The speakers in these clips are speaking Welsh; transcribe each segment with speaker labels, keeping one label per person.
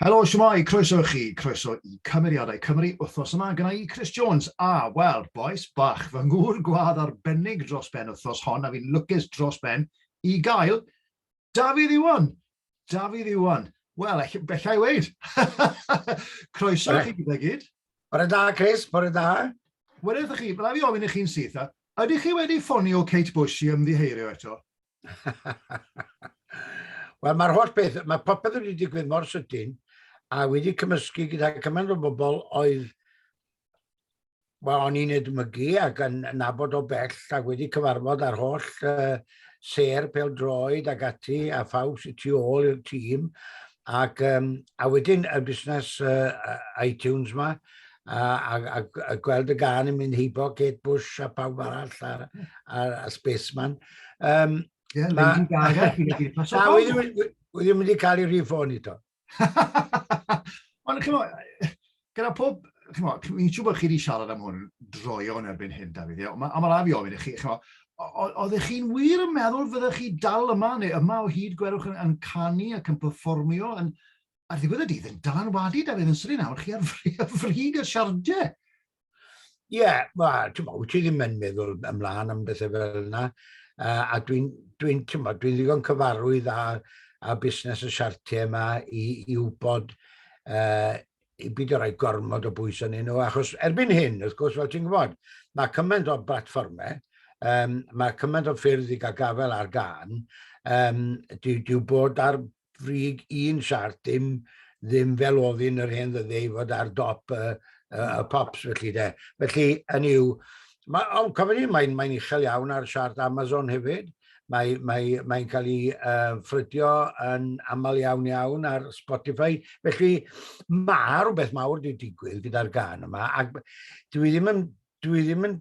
Speaker 1: Helo, shwmae, croeso i chi, croeso i Cymeriadau Cymru wythnos yma gyda i Chris Jones. A, wel, boes, bach, fy ngŵr gwadd arbennig dros ben wythnos hon a fi'n lwcus dros ben i gael Dafydd Iwan. Dafydd Iwan. Wel, ell- bellai weid. croeso i chi gyda gyd. Bore da, Chris, bore da. Wedyn ydych chi, byddai fi ofyn i chi'n syth, a Ydych chi wedi ffonio Kate Bush i ymddiheirio eto? Wel, mae'r holl beth, mae popeth wedi digwydd mor sydyn a wedi cymysgu gyda cymaint o bobl oedd wel, o'n i'n edmygu ac yn nabod o bell a wedi cyfarfod â'r holl uh, ser pel droed ac ati a ffawb sy'n tu ôl i'r tîm ac um, a wedyn y busnes uh, iTunes ma a, a, a, a gweld y gan yn mynd heibo Kate Bush a pawb arall a, a, a Spaceman. Um, yeah, ma, Lady Gaga, fi'n mynd i'r paso. Wedi mynd i cael ei rifon i to. Ond chymod, gyda pob, chymod, fi'n siŵr bod chi wedi siarad am hwn droion erbyn hyn, David, ond mae ma rhaid i ofyn i chi, chymod, oeddech chi'n wir yn meddwl fyddech chi dal yma, neu yma o hyd gwerwch yn, yn canu ac yn performio, yn, ar ddiwedd y dydd yn dylanwadu Dafydd yn swn i'n awr chi ar frig y siardiau. Ie, yeah, wel, ti'n meddwl, ti ddim yn meddwl ymlaen am bethau fel yna. Uh, a dwi'n, dwi'n, ti'n meddwl, dwi'n ddigon cyfarwydd â, â busnes y siartiau yma i, i wybod uh, i byd o rai gormod o bwys yn nhw, achos erbyn hyn, wrth gwrs, fel ti'n gwybod, mae cymaint o blatfformau, um, mae cymaint o ffyrdd i gael gafel ar gan, um, dyw, dyw bod ar frig un siart, dim ddim fel ofyn yr hen ddyddiau i fod ar dop y, y, y pops felly de. Felly, yn yw, mae, oh, cofyn ni, mae'n mae uchel iawn ar siart Amazon hefyd, mae'n mae, mae cael ei uh, ffrydio yn aml iawn iawn ar Spotify. Felly mae rhywbeth mawr wedi digwydd gyda'r gan yma, ac dwi ddim yn, dwi ddim yn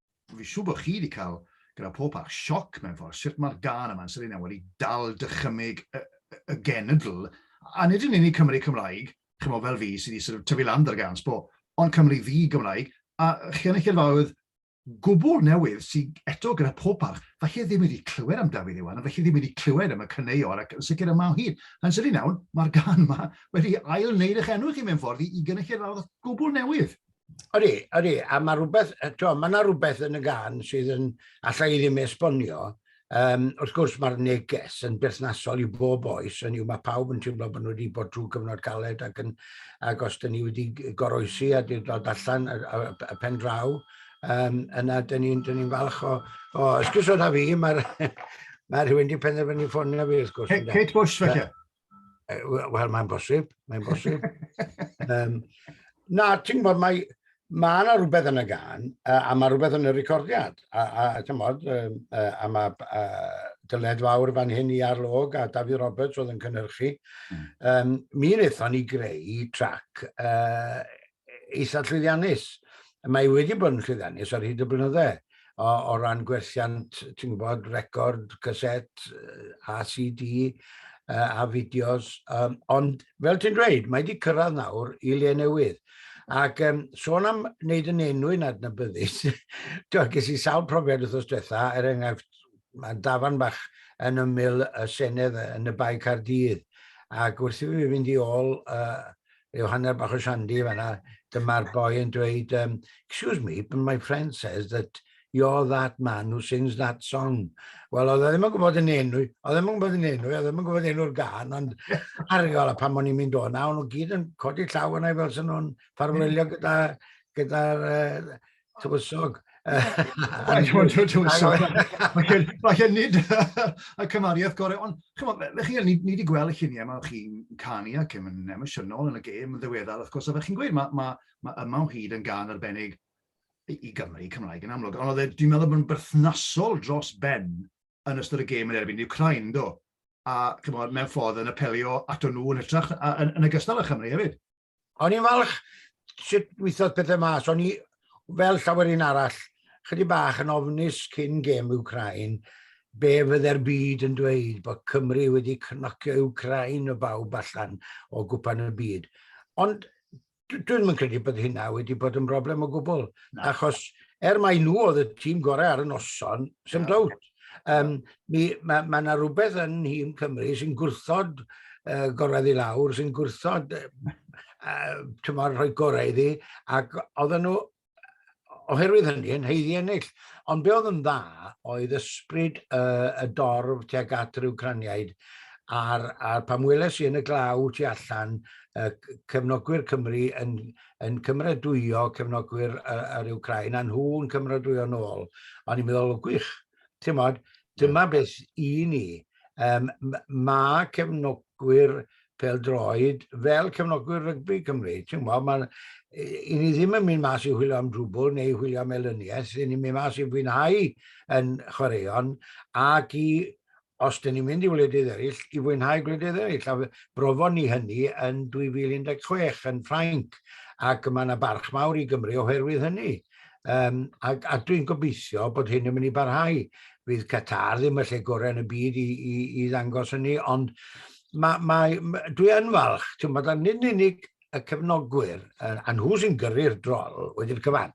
Speaker 1: Fi'n siŵr bod chi wedi cael, gyda pob parch, sioc mewn ffordd sut mae'r gân yma yn Selina wedi dal dychymyg y, y, y genedl, a nid yn unig Cymry Cymraeg, chimo, fel fi, sydd wedi sort of tyfu lan gyda'r gân, sbo, ond Cymru ddi Gymraeg, a chi yn y cyrfaoedd gwbl newydd sydd eto gyda pob parch, falle ddim wedi clywed am Dafydd Iwan, a felly ddim wedi clywed am y caneuon, ac yn sicr yma o hyd. Yn sydyn iawn, mae'r gan yma wedi ail wneud eich enw chi mewn ffordd i, i gynulleidfaoedd gwbl newydd. Odi, odi, a mae rhywbeth, to, mae yna rhywbeth yn y gan sydd yn, allai ddim esbonio, um, wrth gwrs mae'r neges yn berthnasol i bob oes, yn yw mae pawb yn teimlo bod nhw wedi bod trwy gyfnod caled ac, yn, ac os dyn ni wedi goroesi a dyn dod allan y, y, y pen draw, um, yna dyn ni'n ni falch o, o ysgwrs oedd a fi, mae'r mae rhywun wedi penderfynu ffonio fi wrth gwrs. Kate Bush, felly. Wel, mae'n bosib, mae'n bosib. um, na, ti'n gwybod, mae, mae yna rhywbeth yn y gan, a, a mae rhywbeth yn y recordiad. A, a, a ti'n gwybod, um, a, a mae a, dyled fawr fan hyn i arlog a David Roberts oedd yn cynhyrchu. Mm. Um, mi wnaethon ni greu trac uh, eitha llwyddiannus. Mae wedi bod yn llwyddiannus ar hyd y blynydde o, o ran gwerthiant, ti'n gwybod, record, caset, a CD, a fideos. Um, ond, fel ti'n dweud, mae wedi cyrraedd nawr i le newydd. Ac um, sôn am wneud yn enw yn adnabyddus, ges i sawl profiad wrth os diwetha, er enghraifft, mae dafan bach yn ymyl y Senedd yn y Bae Cardydd, ac wrth i fi fynd i ôl uh, rhyw hanner bach o shandy fanna, dyma'r boi yn dweud, um, excuse me, but my friend says that you're that man who sings that song. Wel, oedd e ddim yn gwybod yn enw, oedd e ddim yn gwybod yn enw, oedd e ddim yn gwybod enw'r gan, ond argol a pan o'n i'n mynd o'na, o'n nhw gyd yn codi llaw yna i fel sy'n nhw'n ffarwelio gyda'r gyda, uh, tywysog. Falle nid y cymariaeth gorau, ond chymod, fe chi, ni, ni wedi gweld y lluniau yma o chi'n canu ac yn emosiynol yn y gêm yn ddiweddar, wrth gwrs, a fe chi'n gweud, mae ma, ma yma o hyd yn gan arbennig i, i Gymru, Cymraeg yn amlwg, ond oedd e, dwi'n meddwl bod yn berthnasol dros ben yn ystod y gêm yn erbyn Ukraine, do? A chymod, mewn ffordd yn apelio ato nhw yn hytrach, a, yn, yn y gystal â Chymru hefyd. O'n i'n falch sut weithodd pethau mas. O'n i, fel llawer un arall, chydig bach yn ofnus cyn gêm Ukrain, be fydde'r byd yn dweud bod Cymru wedi cnocio Ukrain o bawb allan o gwpan y byd. Ond dwi'n ddim yn credu bod hynna wedi bod yn broblem o gwbl, achos er mai nhw oedd y tîm gorau ar y noson, sy'n dawt. Um, mi, mae yna ma rhywbeth yn Nhîm Cymru sy'n gwrthod uh, gorau i lawr, sy'n gwrthod uh, tymor rhoi gorau iddi, ac oedden nhw oherwydd hynny yn heiddi ennill. Ond be oedd yn dda oedd ysbryd uh, y dorf tuag at yr Ucraniaid a'r, ar pam weles i yn y glaw tu allan uh, cefnogwyr Cymru yn, yn cymradwyo cefnogwyr yr Ukraine, a nhw'n cymradwyo nôl. O'n i'n meddwl, gwych, ti'n modd, dyma yeah. beth i ni. Um, mae cefnogwyr peldroed fel cefnogwyr rygbi Cymru. Ti'n modd, mae, i ni ddim yn mynd mas i hwylio am drwbl neu hwylio am elyniaeth, i ni'n mynd mas i fwynhau yn chwaraeon ac i os dyn ni'n mynd i wledydd eraill, i fwynhau gwledydd eraill. A brofon ni hynny yn 2016 yn Ffrainc, ac mae yna barch mawr i Gymru oherwydd hynny. Um, a, a dwi'n gobeithio bod hyn yn mynd i barhau. Fydd Qatar ddim y lle gorau yn y byd i, i, i ddangos hynny, ond ma, ma, ma, dwi yn falch, ti'n bod, nid yn unig y cefnogwyr, a nhw sy'n gyrru'r drol wedi'r cyfan,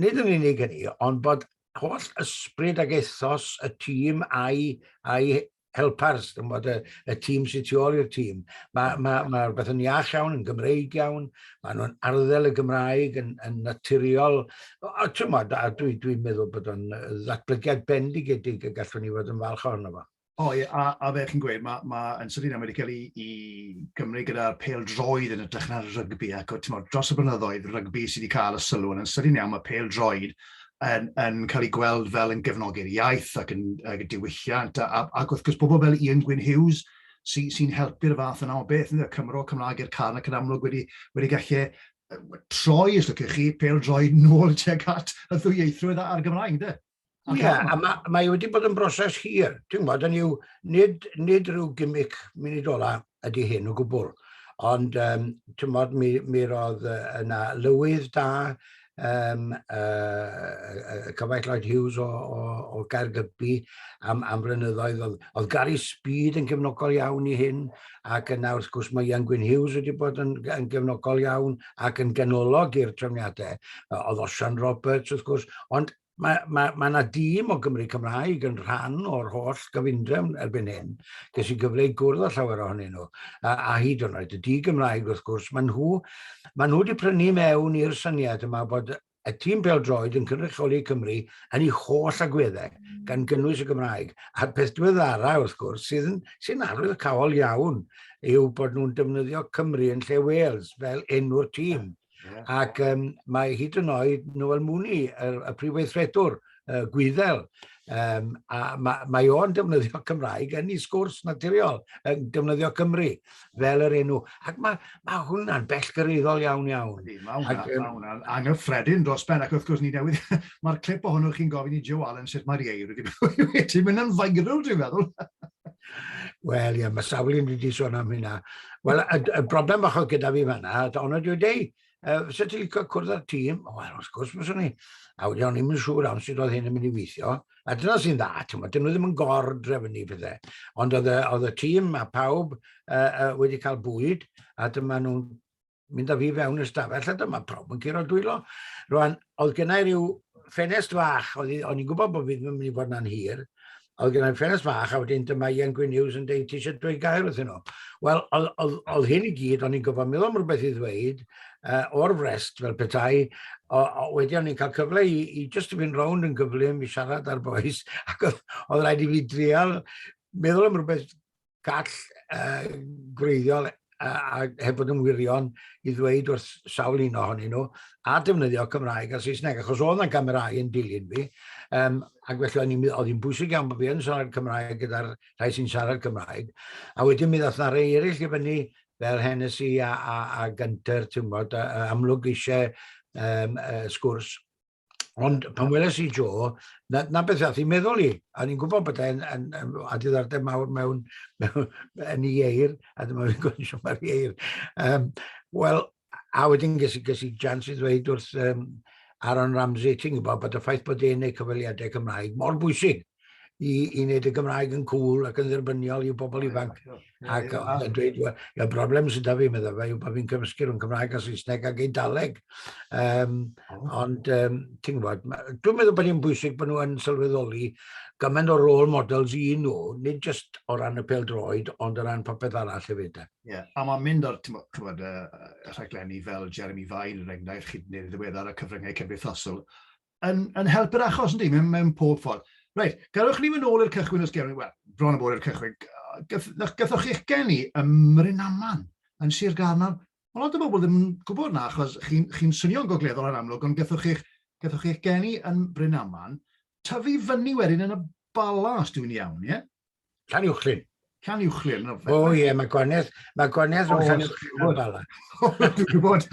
Speaker 1: nid yn unig hynny, ond bod holl ysbryd ac ethos y tîm a'i, a'i helpers, dim bod y, y tîm sy'n tu ôl i'r tîm. Mae mm. ma, ma rhywbeth yn iach iawn, yn Gymreig iawn, maen nhw'n arddel y Gymraeg yn, yn naturiol. A, a dwi, dwi'n meddwl bod o'n ddatblygiad bendigedig y gallwn ni fod yn falch ohono fo. O ie, a, a fel chi'n gweud, mae, ma yn sydyn iawn wedi cael ei, ei gymryd gyda'r pel droed yn ytrach na'r rygbi, ac mod, dros y blynyddoedd, rygbi sydd wedi cael y sylw, yn sydyn iawn mae pel droed yn, yn cael ei gweld fel yn gefnogi'r iaith ac yn, ac yn diwylliant, a, ac wrth gwrs bobl fel Ian Gwyn Hughes sy'n sy helpu'r fath yna o beth, ynddo, Cymro, Cymraeg i'r can ac yn amlwg wedi, wedi gallu troi, os lwciwch chi, pel droed nôl tuag at y ddwyieithrwydd a'r Gymraeg, ynddo? Ie, yeah, a mae, mae wedi bod yn broses hir. Ti'n gwybod, yn yw, nid, nid rhyw gimic munidola ydy hyn o gwbl. Ond, um, ti'n gwybod, mi, mi roedd yna lywydd da, um, uh, Cyfaith Lloyd Hughes o, o, o Gaergybi am, am flynyddoedd. Oedd, oedd Gary Speed yn gefnogol iawn i hyn, ac yna wrth gwrs mae Ian Gwyn Hughes wedi bod yn, yn gefnogol iawn ac yn ganolog i'r trefniadau. Oedd Osian Roberts wrth gwrs, ond mae, mae, mae yna dîm o Gymru Cymraeg yn rhan o'r holl gyfundrefn erbyn hyn. Ges i gyfle i gwrdd â llawer ohonyn nhw, a, a hyd yn oed y di Gymraeg wrth gwrs, maen nhw, maen nhw wedi prynu mewn i'r syniad yma bod y tîm droed yn cynrychioli Cymru yn ei holl agweddau, gan gynnwys y Gymraeg. A'r peth diweddara, wrth gwrs, sydd yn, sy'n arwydd y cawol iawn, yw bod nhw'n defnyddio Cymru yn lle Wales fel enw'r tîm. Yeah. Ac um, mae hyd yn oed Noel Mooney, y, y prif weithredwr, uh, Gwyddel, um, a mae, mae o'n defnyddio Cymraeg yn ei sgwrs naturiol, yn defnyddio Cymru fel yr enw. Ac mae, mae hwnna'n bellgyryddol iawn iawn. Mae hwnna'n anghyffredin dros ben, ac wrth gwrs ni newydd, mae'r clip o hwnnw chi'n gofyn i Joe Allen sut mae'r ieir wedi mynd yn viral, dwi'n meddwl. Wel, ie, mae sawl un wedi sôn am hynna. Wel, y, y broblem bach oedd gyda fi fanna, ond dweud, ei, uh, sut ti'n licio cwrdd â'r tîm? O, wel, wrth gwrs, mae'n ni. A wedi o'n i'n mynd siŵr am sydd oedd hyn yn mynd i weithio. A dyna sy'n dda, ti'n meddwl, dyn nhw ddim yn gordref yn ei pethau. Ond oedd y, oedd y tîm a pawb uh, uh, wedi cael bwyd, a dyma nhw'n mynd â fi fewn i'r stafell, a dyma pawb yn curo dwylo. Rwan, oedd gennau rhyw ffenest fach, o'n i'n gwybod bod fi ddim yn mynd i fod na'n hir, oedd gennau ffenest fach, a wedyn dyma Ian Gwyn Hughes yn dweud, ti eisiau dweud gair wrth nhw. Wel, oedd hyn i gyd, o'n i'n gofod meddwl am rhywbeth i ddweud, uh, o'r frest fel petai, o, o, wedi o'n i'n cael cyfle i, i just i fynd rownd yn gyflym i siarad ar boes, ac oedd, oedd rhaid i fi drial meddwl am rhywbeth gall uh, gwreiddiol a heb fod yn wirion i ddweud wrth sawl un ohonyn nhw a defnyddio Cymraeg a Saesneg, achos oedd yna gamerau yn dilyn fi, um, ac felly o'n i'n mynd, oedd hi'n bwysig iawn bod fi yn siarad Cymraeg gyda'r rhai sy'n siarad Cymraeg, a wedyn mi ddoth na rei eraill i fyny fel Hennessy a, a, a Gunter, ti'n bod, amlwg eisiau um, uh, sgwrs, Ond pan weles i Jo, na, na beth ath i meddwl i, a ni'n gwybod bod e'n yn, yn, a diddordeb mawr mewn, mewn yn ei eir, a dyma fi'n gwybod eisiau mae'r eir. Um, Wel, a wedyn ges i, ges i jans i ddweud wrth um, Aaron Ramsey, ti'n gwybod bod y ffaith bod e'n ei cyfaliadau Cymraeg mor bwysig i, i wneud y Gymraeg yn cool ac yn dderbyniol i'w bobl ifanc. Ac oedd yn dweud, y broblem sydd da fi, meddwl fe, yw bod fi'n cymysgu rhwng Cymraeg a Saesneg ac Eidaleg. Um, ond, um, ti'n gwybod, dwi'n meddwl bod hi'n bwysig bod nhw yn sylweddoli gymaint o rôl models i nhw, nid jyst o ran y pel droed, ond o ran popeth arall hefyd. Ie, yeah. a mae'n mynd o'r tymod, uh, rhaglenni fel Jeremy Vine, yn enghraifft, chi wneud ddiweddar y cyfryngau cymdeithasol, yn, yn help yr achos, ynddi, mewn, mewn pob ffordd. Reit, gadwch ni fy nôl i'r cychwyn os gewn wel, bron o bod i'r cychwyn. Gathoch chi'ch geni ym Mrynaman, yn Sir Garnaf. Mae lot o bobl ddim yn gwybod na, achos chi'n chi, chi swnio'n gogleddol yn amlwg, ond gathoch chi'ch gathoch chi'ch geni yn Brynaman, tyfu fyny wedyn yn y Bala, os dwi'n iawn, ie? Yeah? Llan Uwchlyn. Llan Uwchlyn. O, oh, ie, yeah, mae gwaniaeth, mae gwaniaeth oh, rhwng Llan Uwchlyn a Bala. Dwi'n gwybod.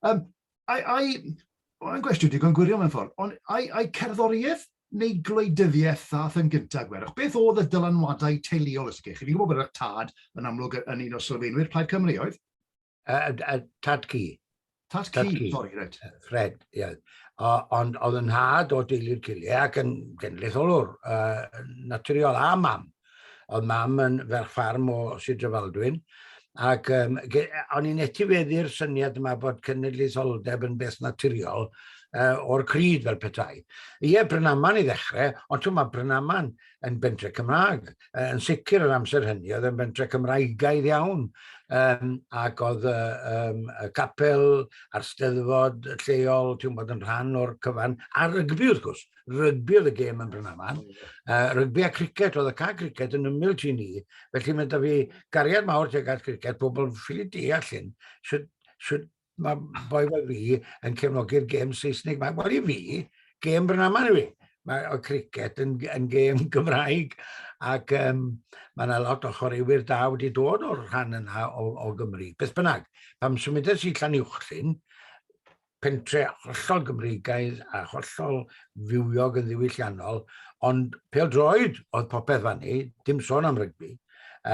Speaker 1: um, I, I, mae'n gwestiwn digon gwirion mewn ffordd, ond ai, ai cerddoriaeth neu gwleidyddiaeth ddath yn gyntaf gwerwch? Beth oedd y dylanwadau teuluol ysgych? Chi'n gwybod bod eich tad yn amlwg yn un o sylfaenwyr Plaid Cymru oedd? A, a, tad ci. Tad, tad ci, sori, reit. Fred, ie. Yeah. Ond oedd yn nhad o deulu'r cilie ac yn genedlaetholwr uh, naturiol a mam. Oedd mam yn ferch ffarm o Sir Drefaldwyn. Ac um, o'n i'n etifeddu'r syniad yma bod cenedlaetholdeb yn beth naturiol uh, o'r cryd fel petai. Ie, Brynaman i ddechrau, ond ti'n mae Brynaman yn bentre Cymraeg. Uh, yn sicr yr amser hynny, oedd yn bentre Cymraegaidd iawn. Um, ac oedd uh, um, y capel a'r steddfod lleol, ti'n bod yn rhan o'r cyfan, a rygbi wrth gwrs. rygbi oedd y gêm yn Brynaman. Uh, rygbi a cricet, oedd y ca cricet yn ymwyl ti ni. Felly mae da fi gariad mawr teg at cricet, pobl ffili deall hyn. Sut, sut mae boi fel fi yn cefnogi'r gêm Saesnig. Mae, wel i fi, gêm Brynaman i fi. Mae o cricet yn, yn gêm Gymraeg ac um, mae yna lot o chwaraewyr da wedi dod o'r rhan yna o, o Gymru. Beth bynnag, pam symudes i Llan Uwchlyn, pentre hollol Gymreigaidd a hollol fywiog yn ddiwylliannol, ond pêl-droed oedd popeth fan ni, dim sôn am rygbi,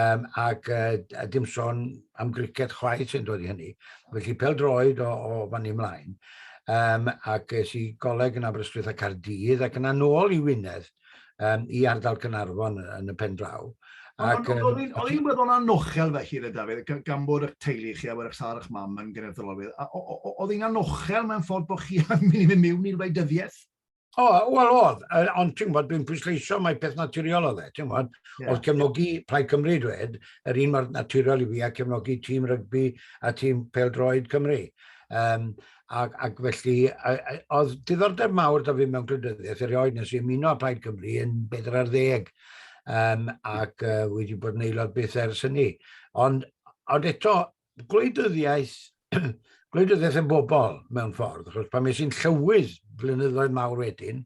Speaker 1: um, ac uh, dim sôn am gricet chwaith sy'n dod i hynny. Felly pêl-droed o, o fan ni ymlaen. Um, ac es i goleg yn Aberystwyth a Cardydd ac yna nôl i Wynedd um, i ardal Cynarfon yn y pen draw. Ac, um, o'n i'n meddwl anochel fe hir y Dafydd, gan bod eich teulu chi a bod eich sar eich mam yn gynnydd dylolydd. Oedd hi'n anochel mewn ffordd bod chi yn mynd i mewn i'r weidyddiaeth? O, wel oedd, ond ti'n gwybod, dwi'n pwysleisio mae peth naturiol o dde, ti'n gwybod, yeah. oedd cefnogi Plaid Cymru dwed, yr un mor naturiol i fi a cefnogi tîm rygbi a tîm pel droed Cymru. Um, Ac, ac felly, oedd diddordeb mawr da fi mewn gwleidyddiaeth erioed nes i ymuno â Plaid Cymru yn bedr ar ddeg um, ac uh, wedi bod yn aelod beth ers hynny. Ond, ond eto, gwleidyddiaeth, gwleidyddiaeth y bobl mewn ffordd, achos pan mes i'n llywydd flynyddoedd mawr wedyn,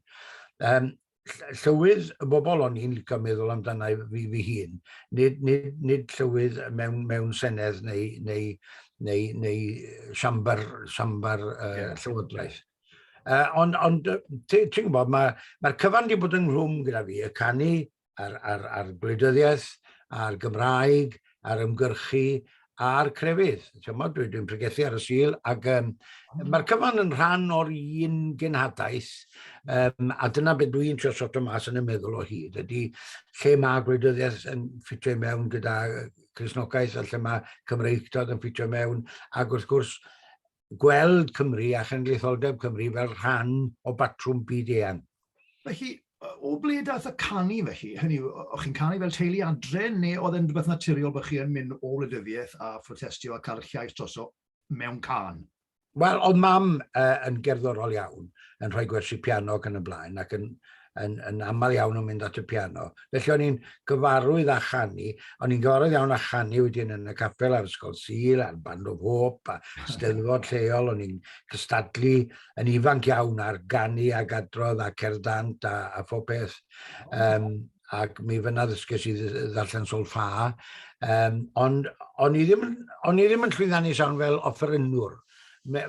Speaker 1: um, llywydd y bobl o'n i'n licio meddwl amdana i fi, fi hun, nid, nid, nid llywydd mewn, mewn senedd neu, neu, neu, neu siambar, siambar uh, yeah. llywodraeth. Uh, ond on, ti'n ti gwybod, mae'r ma, ma cyfan wedi bod yn rhwm gyda fi, y canu a'r, ar, ar gwleidyddiaeth, a'r Gymraeg, a'r ymgyrchu, a'r crefydd. Chymod, dwi, dwi'n pregethu ar y sil, ac um, mae'r cyfan yn rhan o'r un genhadaeth, um, a dyna beth dwi'n trio soto mas yn y meddwl o hyd, ydy lle mae gwleidyddiaeth yn ffitio i mewn gyda Cresnogaeth, a lle mae Cymreictod yn ffitio i mewn, ac wrth gwrs, gweld Cymru a Chynulleidfaoldeb Cymru fel rhan o batrwm byd-eang. Felly, o ble daeth y canu felly? Hynny yw, o'ch chi'n canu fel teulu adre, neu oedd e'n rhywbeth naturiol bod chi yn mynd o wleidyddiaeth a phrotestio a cael llais droso mewn can? Wel, oedd mam uh, yn gerddorol iawn, yn rhoi gwersi piano ac yn y blaen, ac yn, yn, yn aml iawn yn mynd at y piano. Felly o'n i'n gyfarwydd â chanu, o'n i'n gyfarwydd iawn â chanu wedyn yn y capel ar Ysgol Sil, a'r Band of Hope, a steddfod lleol, o'n i'n cystadlu yn ifanc iawn ar ganu a gadrodd a cerddant a, a phob peth. Um, ac mi fyna ddysges i ddarllen sol ffa. Um, ond o'n i ddim, o'n i ddim yn llwyddiannus iawn fel offerynnwr.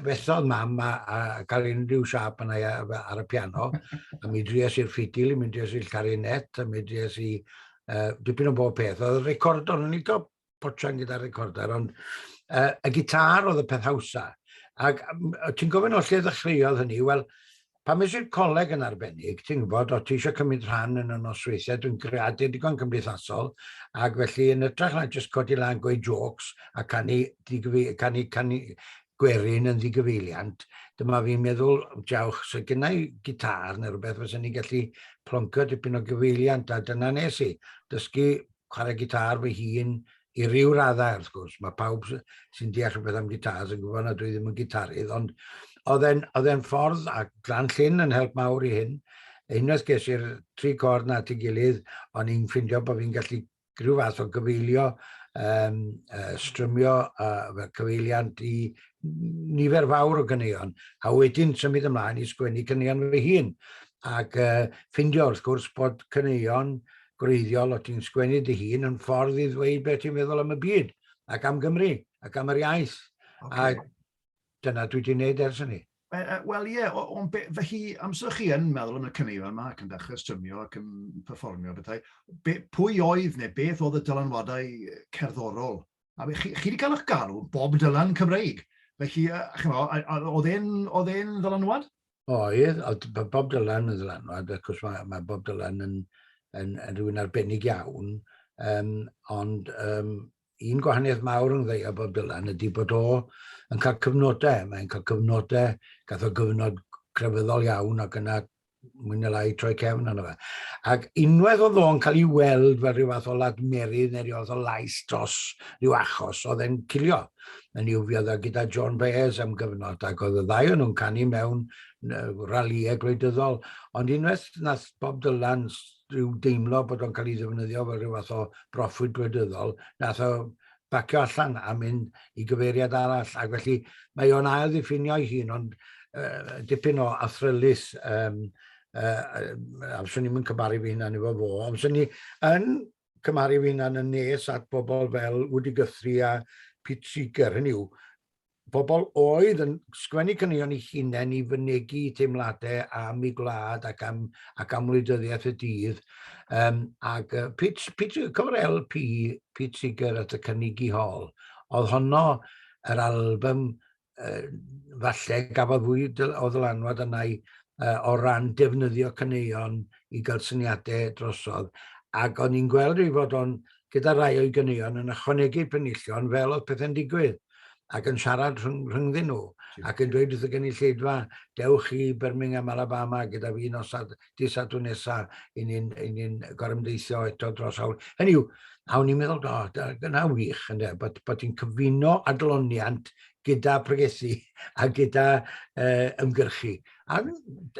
Speaker 1: fethodd mam a, a cael unrhyw siap yna ar y piano, a mi dries i'r ffidil, mi dries i'r carinet, a mi dries i uh, dipyn o bob peth. Oedd y record, o'n i'n licio potsian gyda'r recorder, ond uh, y gitar oedd y peth hawsa. Ac ti'n gofyn o lle ddechreuodd hynny? Wel, Pam es i'r coleg yn arbennig, ti'n gwybod, o't ti eisiau cymryd rhan yn y nosweithiau, dwi'n greadur digon cymdeithasol, ac felly yn ytrach na jyst codi lan, gweud jôcs a canu, ddigyfi, canu, canu gwerin yn ddigyfeiliant, dyma fi'n meddwl, jawch, se gynna i gitar neu rhywbeth fysa ni'n gallu ploncio dipyn o gyfeiliant, a dyna nes i, dysgu chwarae gitar fy hun, i ryw raddau wrth gwrs, mae pawb sy'n deall rhywbeth am gitars yn gwybod nad dwi ddim yn gitarydd, ond oedd e'n ffordd, a Glan Llyn yn help mawr i hyn, unwaith ges i'r tri cord na at ei gilydd, o'n i'n ffindio bod fi'n gallu rhyw fath o gyfeilio, um, uh, strymio uh, cyfeiliant i nifer fawr o gyneuon, a wedyn symud ymlaen i sgwennu cyneuon fy hun. Ac uh, ffindio wrth gwrs bod cyneuon gwreiddiol o ti'n sgwennu dy hun yn ffordd i ddweud beth ti'n meddwl am y byd ac am Gymru ac am yr iaith. Okay. A dyna dwi wedi gwneud ers hynny. Uh, uh, Wel ie, yeah, o'n be, fy hi, amser chi yn meddwl am y cyneuon yma ac yn dechrau strymio ac yn performio bethau, be, pwy oedd neu beth oedd y dylanwadau cerddorol? A be, chi, chi wedi cael eich galw bob dylan Cymreig. Felly, uh, chymod, oedd e'n ddylanwad? oedd, oedd Bob Dylan yn ddylanwad, ac os mae, mae Bob Dylan yn, yn, yn rhywun arbennig iawn, um, ond um, un gwahaniaeth mawr yn ddweud Bob Dylan ydy bod o yn cael cyfnodau, mae'n cael cyfnodau, gath o gyfnod crefyddol iawn ac yna mwyn y lai troi cefn yna fe. Ac unwaith oedd o'n cael ei weld fel rhyw fath o ladmerydd neu rhyw fath o lais dros rhyw achos oedd e'n cilio. yn i'w fiodda gyda John Baez am gyfnod, ac oedd y ddau o'n nhw'n canu mewn ralïau gwleidyddol. Ond unwaith nath Bob Dylan rhyw deimlo bod o'n cael ei ddefnyddio fel rhyw fath o broffwyd gwleidyddol, nath o bacio allan a mynd i gyfeiriad arall. Ac felly mae o'n ail ddiffinio ei hun, ond uh, dipyn o athrylus um, uh, a fyswn i'n mynd cymaru fi hynna efo fo, ond fyswn i yn cymharu fy hunan yn nes at bobl fel Woody Guthrie a Pete Seeger, hynny yw, bobl oedd yn sgwennu caneuon i hunain i fynegu teimladau am ei gwlad ac am, ac am wleidyddiaeth y dydd. Um, ac uh, Pete, Pete, cofio'r LP Pete Seeger at y cynnig i hol, oedd honno yr album falle gafodd fwy o ddylanwad yna i uh, o ran defnyddio caneuon i gael syniadau drosodd. Ac o'n i'n gweld ei fod o'n gyda rai o'i ganeuon yn ychwanegu penillion fel oedd pethau'n digwydd ac yn siarad rhyng, rhyngddyn nhw ac yn dweud wrth y gynulleidfa, dewch i Birmingham, Alabama gyda fi nosad di sadwn nesa i ni'n ni gorymdeithio eto dros awr. Hynny yw, a o'n i'n meddwl, do, dyna wych, ynddo, bod, bod ti'n cyfuno adloniant gyda pregethu a gyda uh, ymgyrchu. A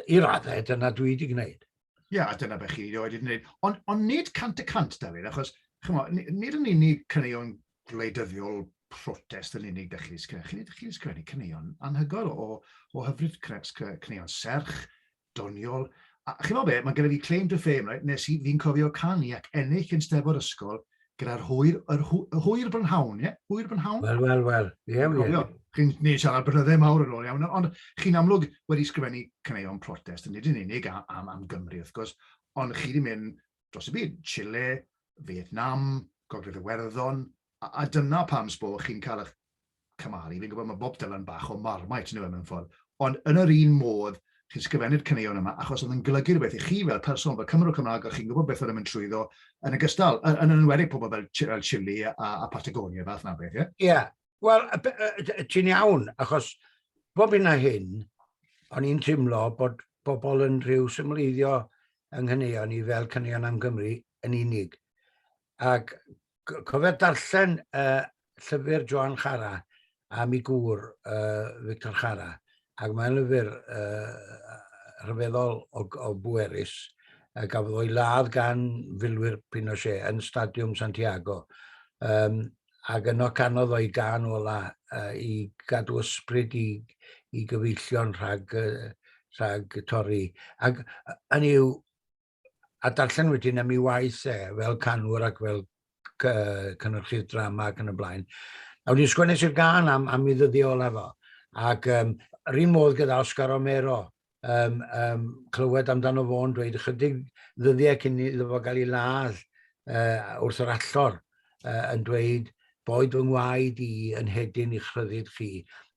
Speaker 1: i raddau, dyna dwi wedi gwneud. Ie, yeah, a dyna beth chi wedi gwneud. Ond on nid cant y cant, David, achos chymo, nid yn unig cyneuon gwleidyddiol protest yn unig ydych chi'n sgrifennu. Chi'n chi sgrifennu cyneuon anhygoel o, o hyfryd cyneuon serch, doniol, a chimo be, mae gyda fi claim to fame right, nes i, fi'n cofio canu ac ennill yn Steddfod Ysgol gyda'r hwyr, yr hw, hwyr brynhawn, ie? Yeah? Hwyr brynhawn? Wel, wel, wel, ie, yeah, ie. Yeah. Chi'n ni siarad brynyddau mawr yn ôl iawn, ond chi'n amlwg wedi sgrifennu caneuon protest, yn nid yn unig am, am, am Gymru, wrth gwrs, ond chi wedi mynd dros y byd, Chile, Vietnam, Gogledd Iwerddon, a, a dyna pam sbo chi'n cael eich cymharu, fi'n gwybod mae Bob Dylan bach o Marmite yw e mewn ffordd, ond yn yr un modd chi'n sgrifennu'r caneuon yma achos oedd yn golygu rhywbeth i chi fel person, fel Cymro Cymraeg, a chi'n gwybod beth oedd yn mynd trwyddo yn y gystal, yn, yn enwedig pobl fel, fel Chile a, a Patagonia, fath na beth, ie? Yeah? Ie, yeah. wel, ti'n iawn, achos bob hyn a hyn, o'n i'n teimlo bod bobl yn rhyw symleiddio yng nghaneuon ni fel caneuon am Gymru yn unig. Ac cofio darllen uh, llyfr Joan Chara a mi gŵr uh, Victor Chara, ac mae'n lyfr uh, rhyfeddol o, o bwerus a gafodd o'i ladd gan filwyr Pinochet yn Stadiwm Santiago. Um, ac yno canodd o'i gan ola uh, i gadw ysbryd i, i gyfeillion rhag, uh, rhag torri. Ac yn yw, a darllen wedyn am ei waith e, fel canwr ac fel cynnyrchydd drama ac yn y blaen. A wedi sgwennes i'r gan am, am ei ddyddiau olaf o. Ac um, yr un modd gyda Oscar Romero, um, um, clywed amdano fo'n dweud ychydig ddyddiau cyn iddo fo gael ei ladd uh, wrth yr allor uh, yn dweud boed fy ngwaed i yn hedyn i'ch rhyddid chi.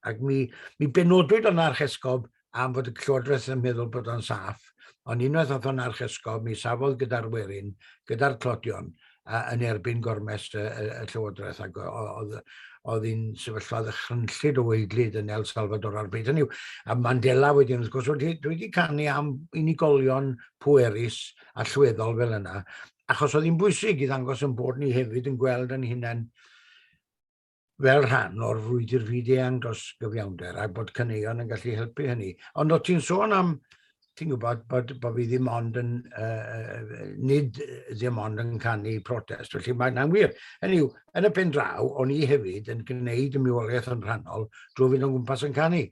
Speaker 1: Ac mi, mi benodwyd o'n archesgob am fod y Llywodraeth yn meddwl bod o'n saff, ond unwaith ath o'n archesgob, mi safodd gyda'r werin, gyda'r tlodion, a, yn erbyn gormes y, y, y Llywodraeth, ac oedd oedd hi'n sefyllfa ddychrynllyd o weidlyd yn El Salvador ar bryd hynny. A Mandela wedyn, wrth gwrs, wedi, dwi wedi canu am unigolion pwerus a llweddol fel yna, achos oedd hi'n bwysig i ddangos yn bod ni hefyd yn gweld yn hunain fel rhan o'r frwydr fyd-eang dros gyfiawnder a bod caneuon yn gallu helpu hynny. Ond o ti'n sôn am, ti'n gwybod, bod, bod fi ddim ond yn, uh, nid ddim ond yn canu protest, felly mae yna'n wir. Hynny yw, yn y pen draw, o'n i hefyd yn gwneud y miwoliaeth yn rhannol drwy fynd o'n gwmpas yn canu.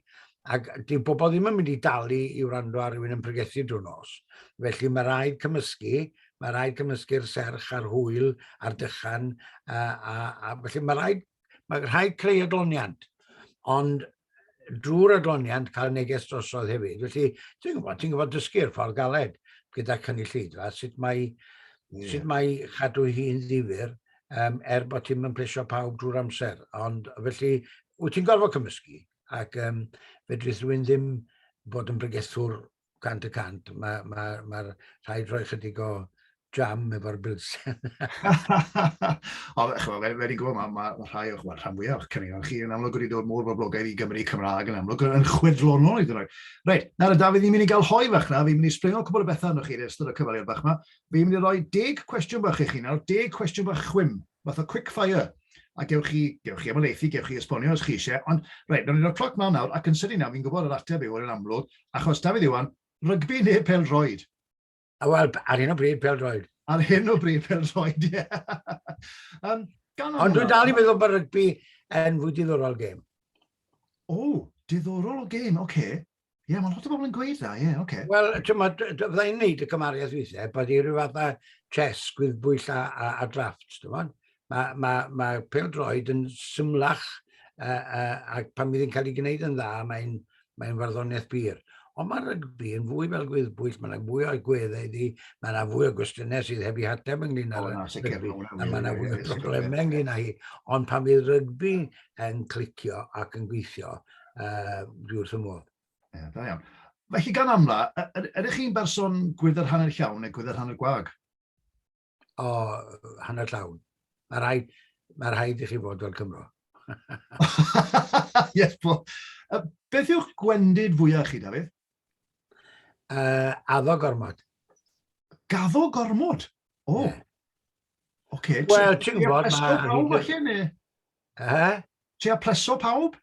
Speaker 1: Ac dyw bobl ddim yn mynd i dalu i wrando ar rywun yn pregethu drwy nos. Felly mae rhaid cymysgu mae rhaid cymysgu'r serch a'r hwyl a'r dychan, a, a, a felly mae rhaid, mae rhaid creu adloniant. Ond drwy'r adloniant cael neges drosodd hefyd. Felly, ti'n gwybod, ti'n gwybod dysgu'r ffordd galed gyda cynulleidfa, sut mae, yeah. sut mae chadw hi'n ddifur, um, er bod ti'n mynd plesio pawb drwy'r amser. Ond felly, wyt ti'n gorfod cymysgu, ac um, fedrith rhywun ddim bod yn bregethwr cant y cant. Mae'r ma, ma rhaid rhoi chydig o jam efo'r bilsen. o, chwa, fe, wedi gwybod, mae ma, ma rhai o'ch, well, rhan fwyaf o'ch cynnig chi yn amlwg wedi dod mor boblogaidd i Gymru Cymraeg yn amlwg yn chwedlonol i ddroi. Reit, nawr y Dafydd, ni'n mynd i gael hoi fach na, fi'n mynd i springo cwbl o bethau yno chi yn ystod y cyfaliad bach yma. Fi'n mynd i roi deg cwestiwn bach i chi nawr, deg cwestiwn bach chwim. fath o quick fire, a gewch chi, gewch chi ymhelaethu, gewch chi esbonio os chi eisiau, ond reit, nawn ni roi'r cloc mlaen nawr, ac yn sydyn iawn, fi'n gwybod yr ateb yw yn amlwg, achos Dafydd Iwan, rygbi neu pel-droed? Wel, ar hyn o bryd, pel-droed. Ar hyn o bryd, pel-droed, ie. Yeah. um, Ond dwi'n dal i meddwl bod rygbi yn fwy diddorol gêm. O, diddorol o gêm, oce. Okay. Ie, yeah, mae'n lot o bobl yn gweud dda, ie, yeah, oce. Okay. Wel, ti'n ma, fydda i'n neud y cymariaeth weithiau, bod i rhyw fath o chess, gwyddbwyll a, a, a drafft, ti'n ma. Mae ma, ma pel droed yn symlach, uh, uh, ac pan fydd hi'n cael ei gwneud yn dda, mae'n mae farddoniaeth byr. Ond mae rygbi yn fwy fel gwyddbwyll, mae yna fwy o'r gweddau iddi, mae yna fwy o gwestiynau sydd heb i hateb ynglyn â rygbi, a mae yna fwy o broblemau ynglyn â hi. Ond pan fydd rygbi yn clicio ac yn gweithio, uh, dwi wrth ymweld. Ie, yeah, da iawn. Felly gan amla, ydych chi'n berson gwydr hanner llawn neu gwydr hanner gwag? O, hanner llawn. Mae rhaid, mae rhaid i chi fod fel Cymro. yes, po. Beth yw'ch gwendid fwyaf chi, Dafydd? Uh, addo gormod. Gaddo gormod? O. Oh. Yeah. Okay, Wel, ti'n gwybod... Ti'n pleso pawb allu ni? Eh? Ti'n pleso pawb?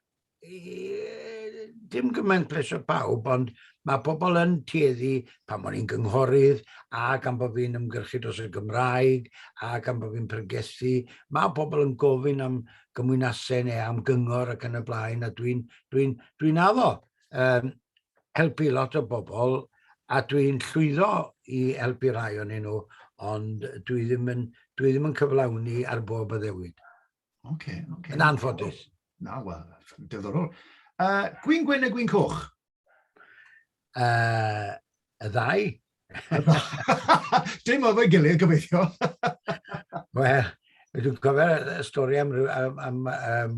Speaker 1: Dim gymaint pleso pawb, ond mae pobl yn tueddu pan o'n i'n gynghorydd a gan bod fi'n ymgyrchu dros y Gymraeg a gan bod fi'n pregethu, mae pobl yn gofyn am gymwynasau neu am gyngor ac yn y blaen a dwi'n dwi, dwi, dwi addo. um, helpu lot o bobl a dwi'n llwyddo i helpu rhai o'n nhw, ond dwi ddim yn, dwi ddim yn cyflawni ar bob addewid. Oce, okay, oce. Okay. Yn anffodus. Na, wel, dyddorol. Uh, gwyn gwyn neu gwyn coch? Uh, y ddau. Dim oedd o'i gilydd, gobeithio. Wel, dwi'n cofio y stori am, am, am, am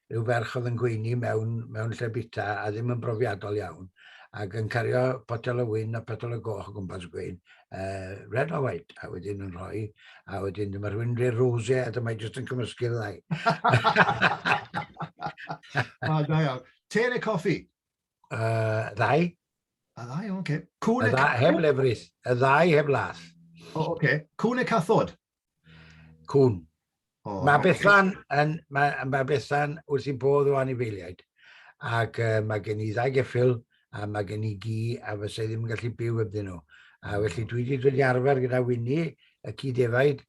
Speaker 1: rhyw ferch oedd yn gweini mewn, mewn lle bita a ddim yn brofiadol iawn ac yn cario potel o wyn a potel o goch o gwmpas y gwein, uh, red or white, a wedyn yn rhoi, a wedyn dyma rhywun rhaid rose a dyma jyst yn cymysgu'r ddau. o, da iawn. Te neu coffi? Uh, ddau. A ddau, oce. Okay. Cwn y ddau, heb lefrith. Y ddau heb lath. O, oh, oce. Okay. Cwn y cathod? Cwn. Oh, mae okay. Bethan yn, mae, mae Bethan wrth i'n bodd o anifeiliaid. Ac uh, mae gen i ddau geffil a mae gen i gi a fysa i ddim yn gallu byw ybddyn nhw. A felly dwi wedi dod i arfer gyda Winnie, y cyd-efaid,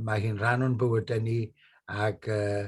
Speaker 1: mae hi'n rhan o'n bywydau ni ac uh,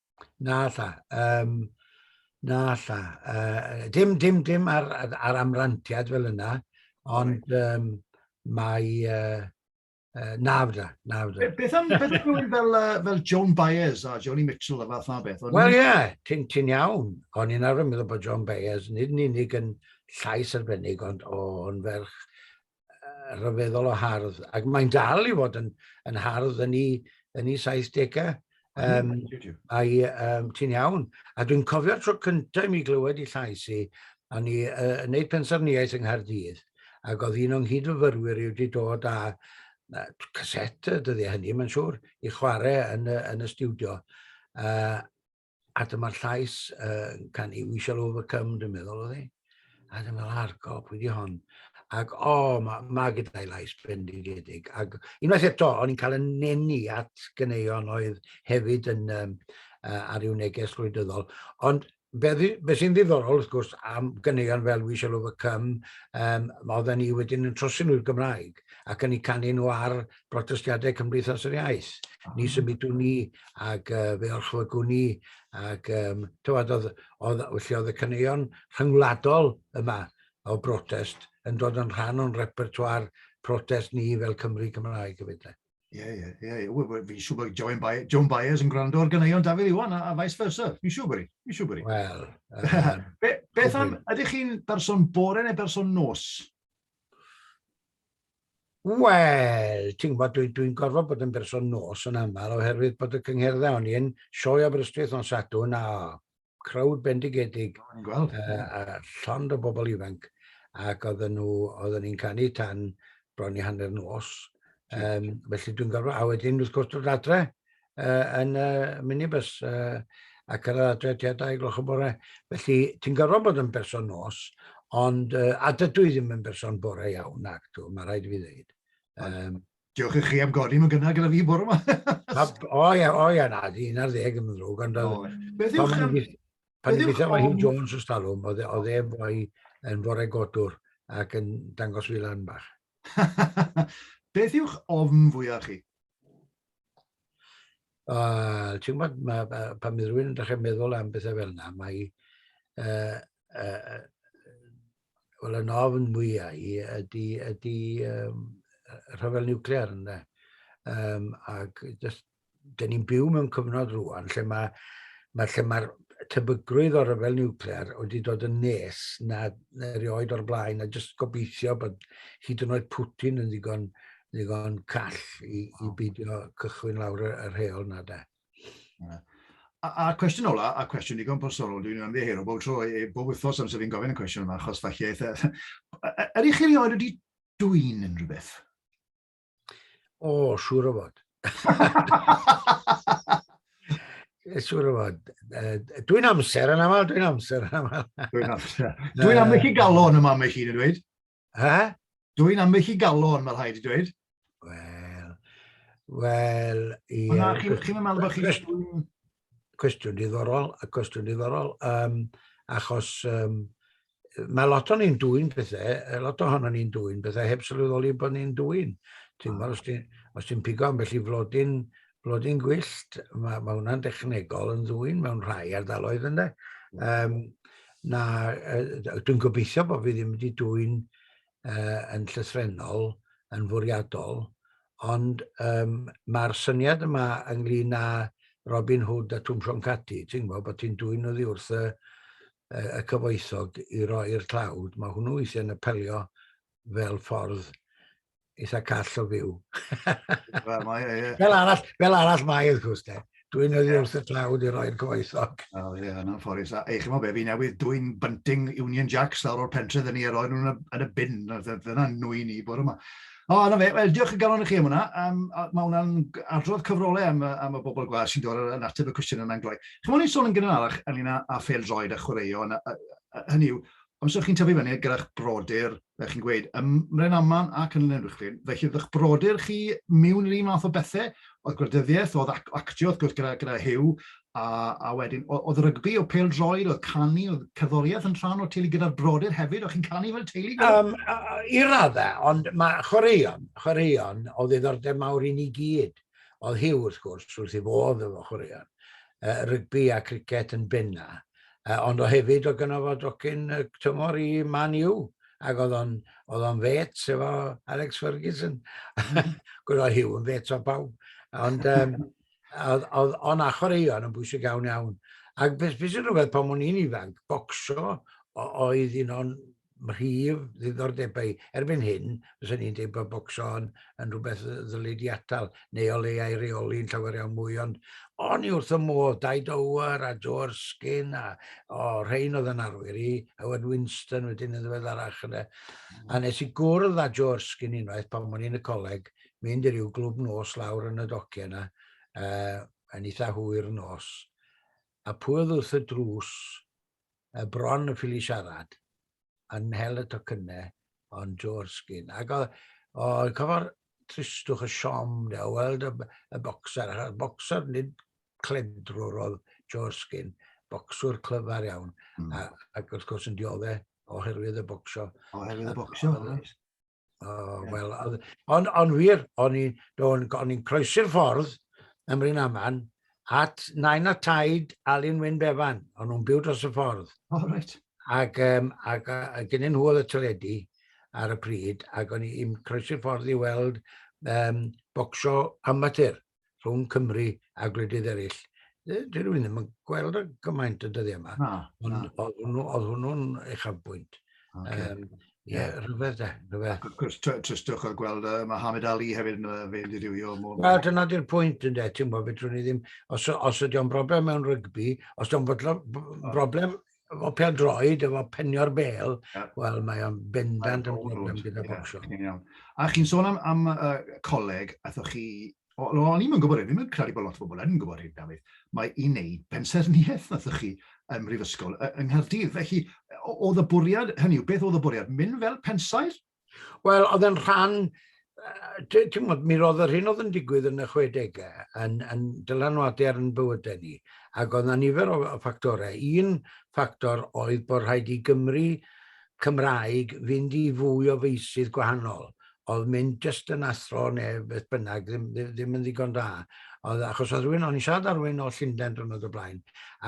Speaker 1: Na, lla. Um, na, lla. Uh, dim, dim, dim ar, ar amrantiad fel yna, ond right. um, mae... Uh, uh, na, fydda, na, fydda. Beth am, beth am rhywun fel, uh, fel Joan Baez a Johnny Mitchell a fath na beth? Wel, ie, yeah, ti'n ti iawn. O'n i'n arfer meddwl bod Joan Baez, nid yn unig yn llais arbennig, ond o'n ferch rhyfeddol o hardd, ac mae'n dal i fod yn, yn hardd yn ei, yn ei 70au. Um, ai, um, ti'n iawn. A dwi'n cofio'r tro cyntaf i mi glywed i llais i, a ni uh, yn neud pensaerniaeth yng Nghaerdydd, ac oedd un o'n nghyd-fyfyrwyr i wedi dod â uh, caset y dyddiau hynny, mae'n siŵr, i chwarae yn, yn y studio. Uh, A dyma'r llais uh, can i We Shall Overcome, dwi'n meddwl oedd e. A dwi'n meddwl, ar gop, wedi hon. Ac o, oh, mae ma gyda'i lais bendigedig. Ac unwaith eto, o'n i'n cael yn nenu at gyneuon oedd hefyd yn um, uh, ar i'w neges rwydyddol. Ond be, be sy'n ddiddorol, wrth gwrs, am gyneuon fel We Shall Overcome, um, mae oedden ni wedyn yn trosi nhw'r Gymraeg ac yn ei canu nhw ar protestiadau Cymdeithas yr Iaith. Ah. Ni symudwn ni ac uh, fe orchfygwn ni ac um, tywed, oedd, oedd, felly oedd y caneuon rhyngwladol yma o brotest yn dod yn rhan o'n repertoire protest ni fel Cymru Cymraeg hefyd. Ie, ie, ie. Fi'n siŵr bod Joan, Baez, Joan Baez yn gwrando ar gyneuon Dafydd Iwan a, a vice versa. Fi'n siŵr bod i. Fi'n siŵr bod i. Wel. Um, Be, beth am, ydych chi'n berson bore neu berson nos? Wel, ti'n gwybod, dwi'n dwi gorfod bod yn berson nos yn aml oherwydd bod y cyngherddau o'n i yn sioe Aberystwyth o'n Sadwn a crowd bendigedig a, a llond o bobl ifanc ac oedden nhw, oedden ni'n canu tan bron i hanner nos. Um, felly dwi'n gorfod, a wedyn wrth gwrs dod adre, uh, yn y uh, minibus uh, ac yr adre tua 2 gloch y bore. Felly, ti'n gorfod bod yn berson nos, ond uh, a dydw i ddim yn berson bore iawn, nac tu, mae rhaid i fi ddeud. Um, Diolch i chi am godi mewn gynnar gyda fi bore yma. o ia, o ia, na, di un ar ddeg yn ddrwg, ond Beth yw'ch am... Pan i beth mae Hugh Jones o stalwm, oedd e fwy yn fore godwr ac yn dangos fi lan bach. Beth yw'ch ofn fwyaf chi? Uh, ti'n gwybod, ma, ma, pan mae rhywun yn dechrau meddwl am bethau fel yna, mae... Uh, uh, Wel, yn ofn mwyau i ydy, ydy um, rhyfel niwclear yna. Um, ac just, dyn ni'n byw mewn cyfnod rwan lle mae ma, lle mae'r tebygrwydd o'r rhyfel niwclear wedi dod yn nes na, na erioed o'r blaen a jyst gobeithio bod hyd yn oed Putin yn ddigon ddigon call i, i beidio cychwyn lawr y, y rheol na da. A'r cwestiwn ola, a cwestiwn digon personol, dwi'n mynd i hero bob tro, e, bob wythnos amser fi'n gofyn y cwestiwn yma, achos falle eitha... Yr eich chi wedi dwy'n yn rhywbeth? O, oh, siŵr o fod. siŵr o fod. Dwi'n amser yn aml, dwi'n amser yn aml. dwi'n amser. Dwi'n aml chi galon yma, mae chi'n dweud. Eh? Dw i'n amlwg i galon, mae rhaid i dweud. Wel, wel, ie. Ond na, chi'n chi meddwl bod chi'n... Cwestiwn diddorol, a cwestiwn diddorol, um, achos um, mae lot o'n i'n dwy'n pethau, e, lot o'n i'n dwy'n pethau, heb sylweddoli bod ni'n dwy'n. Ti'n gwybod, os ti'n pigo am felly flodyn blodyn gwyllt, mae, mae hwnna'n dechnegol yn ddwy'n mewn rhai ardaloedd ynddo. Um, na, uh, dwi'n gobeithio bod fi ddim wedi dwy'n uh, yn llythrenol, yn fwriadol, ond um, mae'r syniad yma ynglyn â Robin Hood a Twm Sion Cati, ti'n gwybod bod ti'n dwy'n oddi wrth y, y cyfoethog i roi'r tlawd, mae hwnnw weithiau'n apelio fel ffordd eitha call o fyw. Wel, mae, ie, ie. Fel arall, fel arall mae, wrth gwrs, de. Dwi'n nyddi yeah. wrth y tlawd i roi'r coes oc. Wel, ie, yeah, yna'n fforus. A eich mo be, fi newydd dwi'n bunting Union Jacks lawr o'r pentre dyn ni a roi nhw'n yn y bin. Dyna nwy ni bod yma. O, yna fe, wel, diolch yn galon i chi am hwnna. Um, mae hwnna'n adrodd cyfrolau am, am y bobl gwas sy'n dod yn ateb y cwestiwn yna'n gloi. Chymwn i'n sôn yn gynharach ynglyn â, â ffeil droed a chwaraeo, hynny yw, Amser chi'n tyfu fyny gyda'ch brodyr, fel chi'n gweud, ym Mrenaman ac yn Llanuwchllyn, felly o'dd 'ych brodyr chi miwn i'r un fath o bethe? O'dd gwleidyddieth, o'dd ac- actio wrth gwrs gyda gyda Huw, a a wedyn o- o'dd rygbi, o'dd pêl-droed, o'dd canu, o'dd cerddorieth yn rhan o'r teulu gyda'r brodyr hefyd, o'ch chi'n canu fel teulu gyda? Yym yy i radde, ond ma' chwaraeon, chwaraeon o'dd ddiddordeb mawr i ni gyd. Oedd Hugh, wrth gwrs, wrth ei fodd efo chwaraeon rygbi a criced yn benna, ond o hefyd o gynno fo docyn tymor i Man U, ac oedd o'n, oedd o'n fet efo Alex Ferguson. Gwyd oedd Hugh yn fet o bawb. Ond um, oedd, oedd o'n a chwaraeon yn bwysig iawn iawn. Ac beth beth sy'n rhywbeth pan o'n i'n ifanc, bocso oedd un o'n mhrif ddiddordebau. Erbyn hyn, fyswn i'n dweud bod bocso yn, yn rhywbeth ddylid i atal, neu o leiau reoli yn llawer iawn mwy, ond o'n i wrth y modd, Dai Dower a Joe Erskine a o, oh, rhain oedd yn arwyr i, Howard Winston wedyn yn ddiweddarach yna. A nes i gwrdd â Joe Erskine unwaith pan o'n i'n y coleg, mynd i ryw glwb nos lawr yn y docio yna, uh, yn eitha hwyr nos. A pwy oedd wrth y drws, y bron yn ffili siarad, yn mhel y tocynnau, ond George Skin. Ac o, o cofo'r tristwch y siom, de, o weld y, y boxer, a'r boxer nid cledrwr oedd George Skin, bocswr clyfar iawn, mm. a, ac wrth gwrs yn diodde oherwydd y bocsio. Oherwydd y bocsio, oes. Oh, well, ond on wir, o'n i'n croesi'r ffordd ym Mryn Aman at nain a taid Alun Wyn Bevan. O'n nhw'n byw dros y ffordd. Oh, right. Ac, um, ac a, a gynnu nhw oedd y teledu ar y pryd, ac o'n i'n croesi'r ffordd i weld um, bocsio amatur. rhwng Cymru a gwledydd eraill. Dwi rwy'n ddim yn gweld y gymaint y dyddiau yma. Na, na. Oedd hwnnw, oedd hwnnw'n uchafbwynt. Okay. Um, Ie, yeah, rhyfedd de, rhyfedd. Ac wrth gwrs, tristwch oedd gweld uh, Mohamed Ali hefyd yn uh, fe'n dirywio. Wel, dyna di'r pwynt yn de, ti'n gwybod, fedrwn ni ddim, os, os ydy o'n broblem mewn rygbi, os ydy o'n broblem efo pel droed, efo penio'r bel, yeah. wel, mae o'n bendant yn broblem gyda bob sio. A chi'n sôn am, am uh, coleg, atho chi, o, o, o'n i'n gwybod hyn, ddim yn credu bod lot o bobl yn gwybod hyn, Dafydd, mae i wneud pensaerniaeth atho chi ym Mhrifysgol yng Nghaerdydd. Felly, oedd y bwriad, hynny yw, beth oedd y bwriad? Mynd fel pensaer? Wel, oedd yn rhan, ti'n gwybod, mi roedd yr hyn oedd yn digwydd yn y 60au yn, yn dylanwadu ar yn bywydau ni. Ac oedd yna nifer o, o ffactorau. Un ffactor oedd bod rhaid i Gymru Cymraeg fynd i fwy o feisydd gwahanol. Oedd mynd jyst yn athro neu beth bynnag, ddim, ddim, ddim yn ddigon da. Oedd, achos oedd rhywun, o'n i'n siarad ar rhywun o Llundain drwy'n oedd y blaen,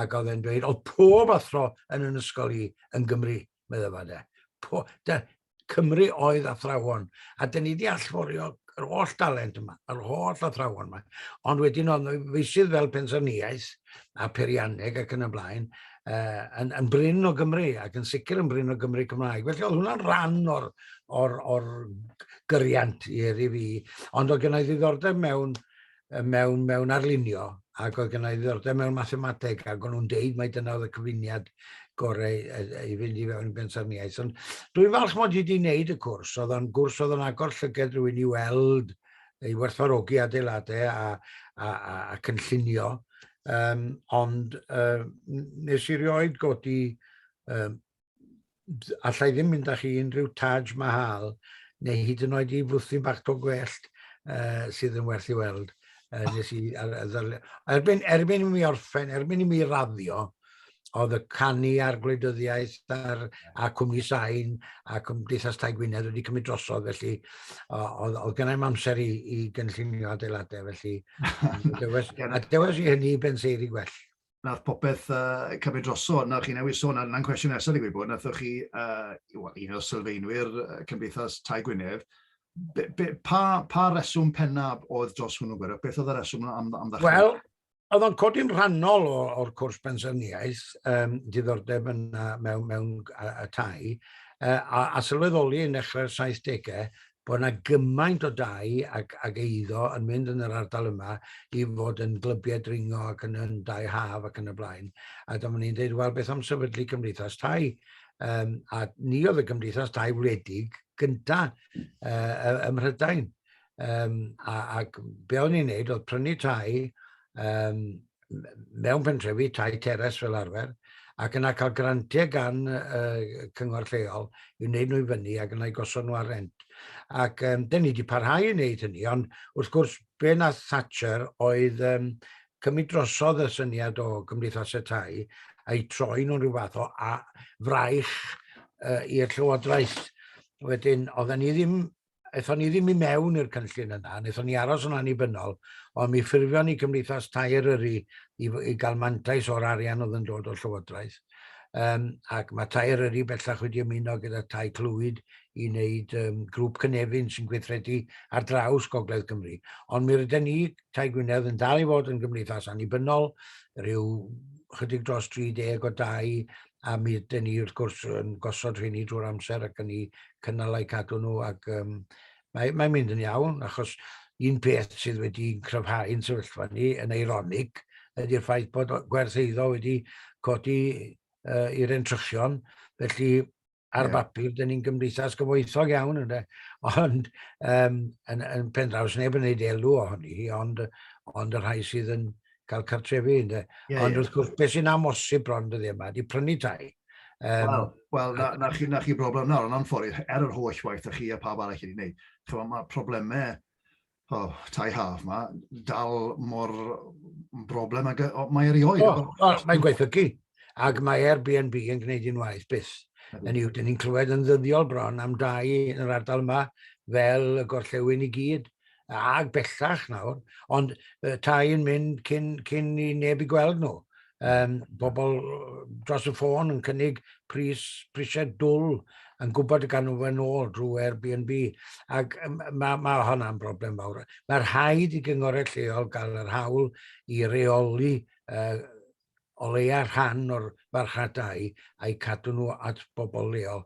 Speaker 1: ac oedd e'n dweud, oedd pob athro yn yn ysgol i yn Gymru. medda fa de. Po, de, Cymru oedd athrawon, a dyn ni wedi allforio yr holl dalent yma, yr holl athrawon yma. Ond wedyn oedd nhw feisydd fel pensaerniaeth a perianneg ac yn y blaen, uh, yn, yn bryn o Gymru ac yn sicr yn bryn o Gymru Cymraeg. Felly oedd hwnna'n rhan o'r, or, or gyriant i eri fi. Ond oedd gennau ddiddordeb mewn mewn, mewn arlunio ac oedd gennau ddiddordeb mewn mathemateg ac o'n nhw'n deud mai dyna oedd y cyfuniad gorau i fynd i fewn i bensaerniaeth. Ond dwi'n falch mod i wedi wneud y cwrs, oedd o'n gwrs oedd o'n agor llyged rhywun i weld, i werthfarogi adeiladau a, a, a, a cynllunio, um, ond uh, nes i rioed godi um, allai ddim mynd â chi unrhyw Taj Mahal, neu hyd yn oed i fwthyn bach to gwellt uh, sydd yn werth i weld. Uh, nes i, ar, ar, erbyn, erbyn i mi orffen, erbyn i mi raddio, oedd y canu a'r gwleidyddiaeth a'r, a cwmni sain a Cymdeithas Tai Gwynedd wedi cymryd drosodd, felly oedd, oedd gennau'n amser i, i gynllunio adeiladau, felly a dewes, a dewes i hynny i benseiri gwell. nath popeth uh, cymryd droso, na chi newid sôn, na'n cwestiwn nesaf i gwybod, nathoch chi, uh, un o'r sylfaenwyr uh, Cymdeithas Tai Gwynedd, be, be, pa, pa reswm pennaf oedd dros hwnnw gwyrdd? Beth oedd y reswm am, am ddechrau? Wel, oedd o'n codi'n rhannol o'r cwrs pensaerniaeth, um, diddordeb yn, uh, mewn, mewn uh, y tai, uh, a, a sylweddoli yn dechrau'r 70au, bod yna gymaint o dai ac, ac eiddo yn mynd yn yr ardal yma i fod yn glybiau dringo ac yn, yn dai haf ac yn y blaen. A dyma ni'n dweud, wel, beth am sefydlu cymdeithas tai? Um, a ni oedd y gymdeithas tai wledig gynta uh, ym Mhrydain. Um, a, ac be o'n i'n neud oedd prynu tai um, mewn pentrefi, tai teres fel arfer, ac yna cael grantiau gan uh, cyngor lleol i wneud nhw i fyny ac yna i gosod nhw ar rent. Ac um, dyn ni wedi parhau i wneud hynny, ond wrth gwrs be na Thatcher oedd um, cymryd drosodd y syniad o gymdeithasau tai a'i troi nhw'n rhyw fath o a, fraich uh, i'r llywodraeth. Wedyn, oedden ni ddim Aethon ni ddim i mewn i'r cynllun yna, wnaethon ni aros yn annibynnol, ond mi ffurfion ni Cymdeithas Tai Eryri i, i gael mantais o'r arian oedd yn dod o'r Llywodraeth. Um, ac mae Tai Eryri bellach wedi ymuno gyda Tai Clwyd i wneud um, grŵp cynefin sy'n gweithredu ar draws Gogledd Cymru. Ond mi rydyn ni, Tai Gwynedd, yn dal i fod yn gymdeithas annibynnol, rhyw chydig dros 30 o dau a mi ydyn ni wrth gwrs yn gosod rheini drwy'r amser ac yn ni cynnal eu cadw nhw ac um, mae'n mae mynd yn iawn achos un peth sydd wedi cryfhau'n sefyllfa ni yn eironig ydy'r ffaith bod gwerth eiddo wedi codi uh, i'r entrychion felly ar yeah. bapur, dyn ni'n gymdeithas gyfoethog iawn, ynddo, ond um, yn, yn pen draws neb yn gwneud elw ohoni hi, ond, ond y rhai sydd yn cael cartrefi. Ynddo. Yeah, ond yeah. wrth gwrs, beth sy'n amosib bron dyddi yma, di prynu tai. Um, Wel, well, na, na, chi, na chi broblem nawr, yn anffodus, er yr holl waith a chi a pawb arall wedi gwneud. Mae problemau oh, tai haf ma, dal mor broblem ag oh, mae erioed. Oh, oh, mae'n gweithiogi, ac mae Airbnb yn gwneud un waith byth. Yn yw, dyn ni'n clywed yn ddyddiol bron am dau yn yr ardal yma fel y gorllewin i gyd, ag bellach nawr, ond uh, tai yn mynd cyn, cyn i neb i gweld nhw. um, pobl dros y ffôn yn cynnig pris, prisiau dwl yn gwybod y gan nhw fe'n ôl drwy Airbnb. Ac mae, ma hwnna'n broblem fawr. Mae'r rhaid i gyngorau lleol gael yr hawl i reoli uh, o leia rhan o'r farchnadau a'u cadw nhw at bobl leol,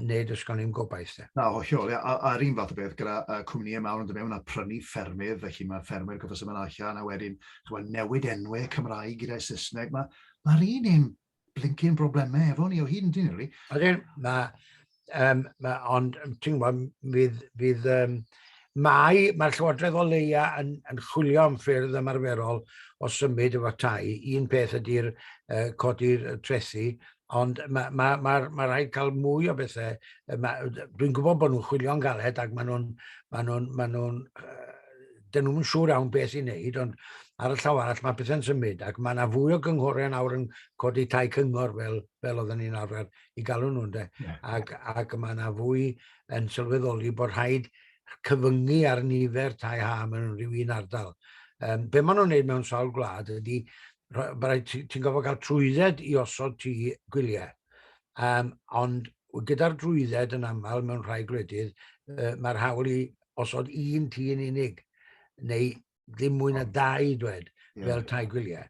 Speaker 1: neu does gan ddim gobaith 'de. Na, hollol, ia, a'r un fath o beth gyda cwmnïau mawr yn dod mewn a prynu ffermydd, felly mae ffermwyr gorfod symud allan a wedyn ch'mod newid enwau Cymraeg gyda'i Saesneg, mae'r un un blincin broblemau efo ni o hyd yndyn ni rili? Ydyn, mae Um, ond, ti'n gwybod, fydd, fydd um, mae, mae'r Llywodraeth o leia yn, yn chwilio am ffyrdd ymarferol o symud efo tai. Un peth ydy'r uh, codi'r trethi, ond mae, ma, ma, ma rhaid cael mwy o bethau. Dwi'n gwybod bod nhw'n chwilio'n galed ac maen nhw'n... Ma nhw, ma nhw, dyn nhw'n siŵr iawn beth i'n neud, ond ar y llaw arall mae pethau'n symud ac mae yna fwy o gynghorau yn awr yn codi tai cyngor fel, fel oedden ni'n arfer i galw nhw, ynde? Yeah. Ac, ac mae yna fwy yn sylweddoli bod rhaid cyfyngu ar nifer tai ha mewn rhyw un ardal. Um, be maen nhw'n gwneud mewn sawl gwlad ydy, ti'n gofod cael trwydded i osod ti gwyliau. Um, ond gyda'r drwydded yn aml mewn rhai gwledydd, uh, mae'r hawl i osod un ti yn unig, neu ddim mwy na dau dwed fel tai gwyliau.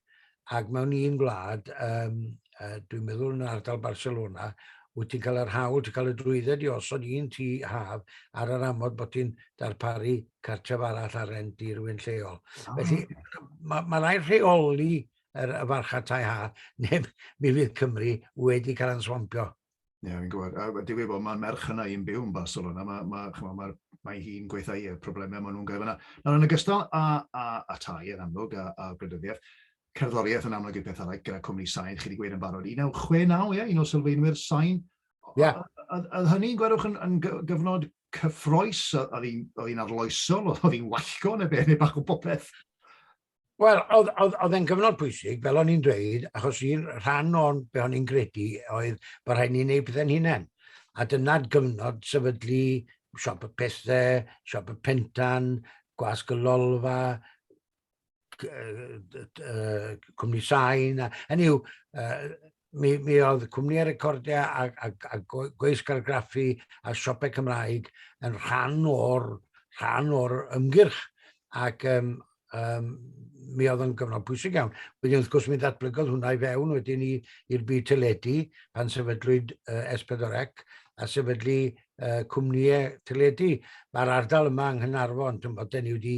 Speaker 1: Ac mewn un gwlad, um, dwi'n meddwl yn ardal Barcelona, wyt ti'n cael yr hawl, ti'n cael y drwydded i osod un tu haf ar yr amod bod ti'n darparu cartref arall ar rent i rywun lleol. Oh. Felly, mae ma rai rheoli yr, y farcha tai ha, neu mi fydd Cymru wedi cael answampio. Ie, yeah, fi'n gwybod. A dwi'n gwybod, mae merch yna i'n byw yn Barcelona. Mae, mae, chma, mae, mae hi'n gweithio i'r problemau maen nhw'n gael yna. Nawr, yn ogystal a, a, a tai yn amlwg, a, a gwleidyddiaeth, cerddoriaeth yn amlwg i'r peth arall gyda cwmni sain, chi wedi gweud yn barod. 1969, ie, un o sylfaenwyr sain. Yeah. Oedd hynny'n gwerwch yn, yn gyfnod cyffroes, oedd hi'n arloesol, oedd hi'n wallgo neu beth, neu bach o bopeth? Wel, oedd, oedd, oedd e'n gyfnod pwysig, fel o'n i'n dweud, achos un rhan o'n be o'n i'n credu oedd bod rhaid ni'n neud pethau'n hunain. A dyna gyfnod sefydlu siop y pethau, siop y pentan, gwasg y lolfa, cwmni sain, a hynny yw, mi, mi oedd cwmni ar recordiau a, a, a gweisg argraffu a siopau Cymraeg yn rhan o'r, rhan o'r ymgyrch. Ac um, um, mi oedd yn gyfnod pwysig iawn. Wedyn wrth gwrs mi ddatblygodd hwnna i fewn wedyn i'r byd teledu pan sefydlwyd uh, S4C a sefydlu uh, cwmnïau teledu. Mae'r ardal yma yng Nghynarfon, ti'n bod, da ni wedi,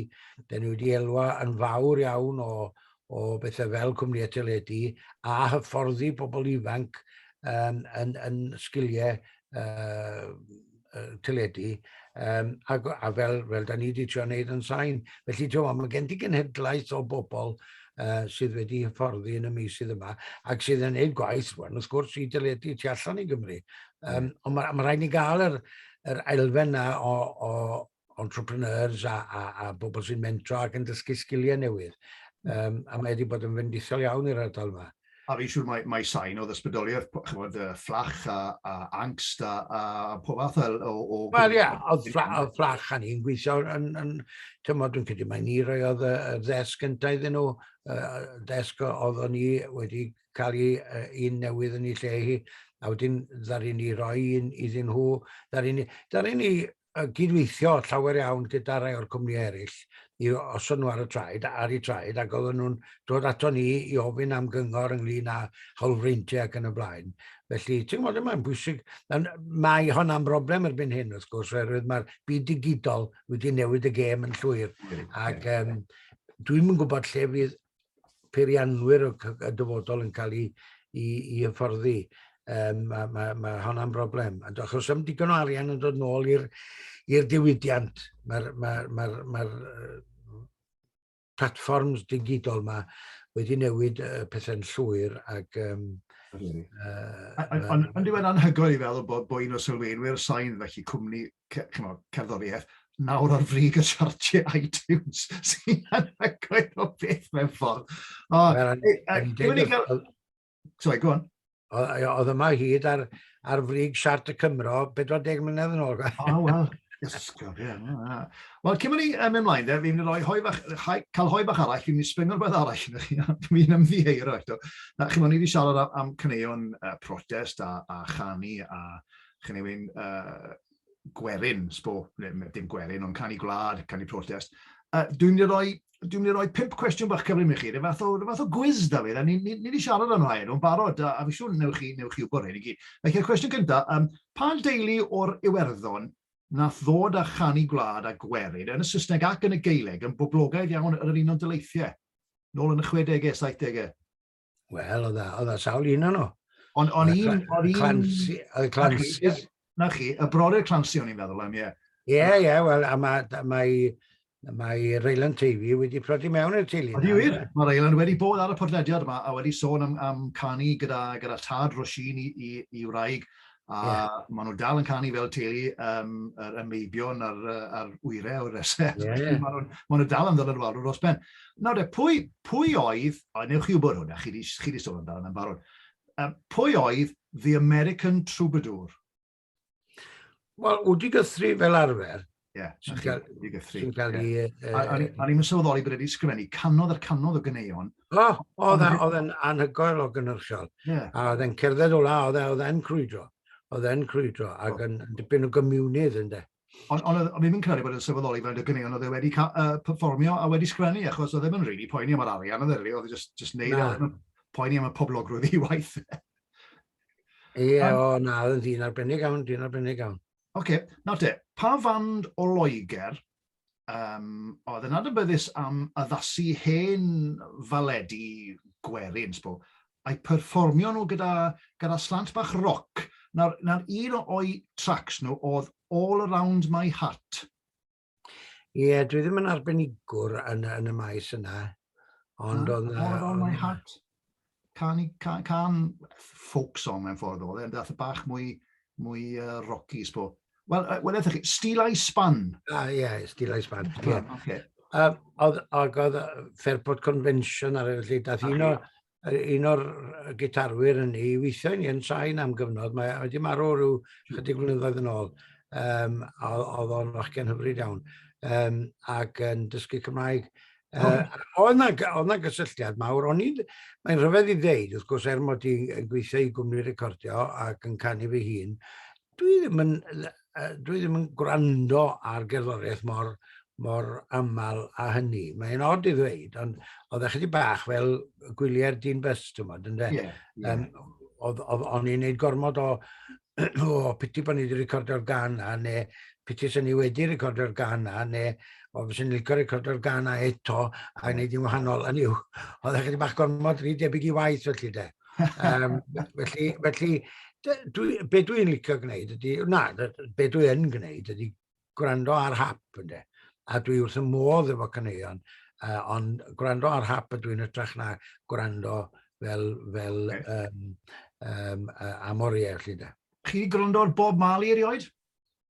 Speaker 1: da ni wedi elwa yn fawr iawn o, o bethau fel cwmnïau teledu a hyfforddi pobl ifanc yn, yn, yn sgiliau uh, teledu um, a, a fel, fel da ni wedi trio wneud yn sain. Felly, ti'n mae gen ti genhedlaeth o bobl uh, sydd wedi hyfforddi yn y misydd yma ac sydd yn gwneud gwaith, wel, wrth gwrs, i dyledu tu allan i Gymru. Um, ond mae, mae rhaid ni gael yr, yr elfen na o, o, entrepreneurs a, a, a bobl sy'n mentro ac yn dysgu sgiliau newydd. Um, a mae wedi bod yn fendithol iawn i'r ardal yma. A fi'n siŵr mae, mae sain oedd ysbrydoliaeth, chymod, fflach a, a angst a, a pob fath o... o Wel, ie, oedd fflach a ni'n gweithio yn, yn tymod, dwi'n credu mae ni roi oedd y ddesg gyntaf iddyn nhw, y ddesg oedd o'n ni wedi cael ei uh, un newydd yn ei lle hi, a wedyn ddaru ni roi un iddyn nhw, ddaru ni, ddaru ni yn cydweithio llawer iawn gyda rhai o'r cwmnïau eraill i osod nhw ar y traed, ar y traed, ac oedden nhw'n dod ato ni i ofyn am gyngor ynglyn â hawlfreintiau ac yn y blaen. Felly, ti'n gwybod, mae'n bwysig, mae hon am broblem erbyn hyn, wrth gwrs, oherwydd mae'r byd digidol wedi newid y gêm yn llwyr. Ac um, dwi'n yn gwybod lle fydd peirianwyr y dyfodol yn cael ei, i, i hyfforddi. Um, mae ma, ma honna'n broblem. Achos am digon o arian yn dod nôl i'r diwydiant. Mae'r ma, ma, ma, ma platforms digidol yma wedi newid uh, pethau'n llwyr ac um, Ond yn ddiwedd anhygoel i feddwl bod, bod un o sylweinwyr sain, felly cwmni ch'mod, cerddoriaeth, nawr ar frig y siartiau iTunes sy'n anhygoel o beth mewn ffordd. O, Sorry, go on. Oedd yma hyd ar, ar frig siart y Cymro 40 mlynedd yn ôl. O, wel, ysgol, ie. Wel, cyn mynd i um, ymlaen, de, fi'n rhoi hoi fach, hoi, cael hoi fach arall, fi'n mynd i sbringo'r beth arall yn chi, fi'n ymddiheuro eto. Na, chi'n mynd, ni wedi siarad am, am cyneuon uh, protest a, a chanu a, chi'n ei wyn, uh, gwerin, sbo, dim gwerin, ond canu gwlad, canu protest. Uh, dwi'n mynd i roi dwi'n mynd i roi pimp cwestiwn bach cyfrin i chi, rhyw fath o, rhyw fath o gwiz, Dafydd, a ni, ni, ni wedi siarad am rhai nhw'n barod, a, a fi siŵr newch chi, newch chi wybod hyn i gyd. Felly, y cwestiwn gyntaf, um, pa deulu o'r Iwerddon nath ddod â chanu gwlad a gwerin yn y Saesneg ac yn y Gaeleg yn boblogaidd iawn yr un o'n dyleithiau, nôl yn y 60au, 70au? Wel, oedd yna sawl un o'n nhw. Ond on un... Oedd y Clancy... Oedd y Clancy... Na chi, y brodyr Clancy o'n i'n meddwl am, ie. Ie, ie, wel, a mae... Mae, mae Raylan Tavy wedi prodi mewn i'r teulu. Ydy wir, mae Raylan wedi bod ar y podlediad yma a wedi sôn am, am canu gyda, gyda tad Roisin i, i, i wraig A yeah. maen nhw dal yn canu fel teulu um, yr ymeibion a'r, ar wyre o'r resel. Yeah. maen, nhw, maen nhw dal yn ddod yn wal dros ben. Nawr de, pwy, pwy oedd, a newch chi wybod hwnna, chi wedi sôn amdano yn barod, um, pwy oedd The American Troubadour? Wel, wedi gythru fel arfer, Ie, sy'n cael ei gythru. Sy'n cael ei... O'n i'n sylweddoli bod wedi sgrifennu canodd ar canodd o gyneuon. O, oedd e'n anhygoel o gynnyrchiol. A oedd e'n cerdded o la, oedd e, e'n crwydro. Oedd e'n crwydro, ac yn dipyn o gymiwnydd yn de. Ond on, on, mi'n credu bod yn sylweddoli fel y gyneuon oedd e wedi uh, performio a wedi sgrifennu, achos oedd e'n rili really poeni am yr arian, oedd e'n oedd e just, just neud, oedd e'n poeni am y poblogrwydd i waith. Ie, o na, oedd yn dyn arbennig iawn, dyn arbennig iawn. Oce, nawr te, pa fand o Loegr um, oedd yn adnabyddus am addasu hen faledi gwerin, sbo, a'i perfformio nhw gyda, gyda slant bach roc. Nawr, nawr un o'i tracks nhw oedd All Around My Heart. Ie, yeah, dwi ddim yn arbenigwr yn, yn y maes yna. Ond o'n... All of all my heart. Can, can, can folk song mewn ffordd oedd e, dath y bach mwy, mwy uh, rocky, sbo. Wel, uh, well, ydych chi, Steel Eye Span. Ah, ie, yeah, Steel Eye Span. Yeah. Okay. Um, oedd, oedd, oedd Fairport Convention ar y lle, dath un o, un o'r gitarwyr yn ni, weithiau ni yn sain am gyfnod, mae wedi marw rhyw chydig blynyddoedd yn ôl, um, oedd o'n fachgen hyfryd iawn, um, ac yn dysgu Cymraeg. Uh, oedd na gysylltiad mawr, o'n i'n, mae'n rhyfedd i ddeud, wrth gwrs, er mod i'n gweithio i gwmni recordio ac yn canu fy hun, Dwi ddim yn, dwi ddim yn gwrando ar gerddoriaeth mor, mor aml a hynny. Mae'n od i ddweud, ond oedd eich di bach fel gwyliau'r dyn bus, ti'n modd, ynddo? Yeah, yeah. Um, oedd, oedd o'n i'n neud gormod o, o piti bod ni wedi recordio'r gan a, neu piti sy'n ni wedi recordio'r gan a, neu o fes yn licio recordio'r gan a eto, a gwneud i'n wahanol, yn yw, oedd eich di bach gormod rhy debyg i waith felly de. Um, felly, felly dwi, be dwi'n licio gwneud ydy, na, be dwi'n gwneud ydy gwrando ar hap ynddo. A dwi wrth y modd efo caneuon, uh, ond gwrando ar hap ydw i'n ytrach na gwrando fel, fel okay. um, um, uh, am oriau, felly da. Chi wedi gwrando ar Bob Marley erioed?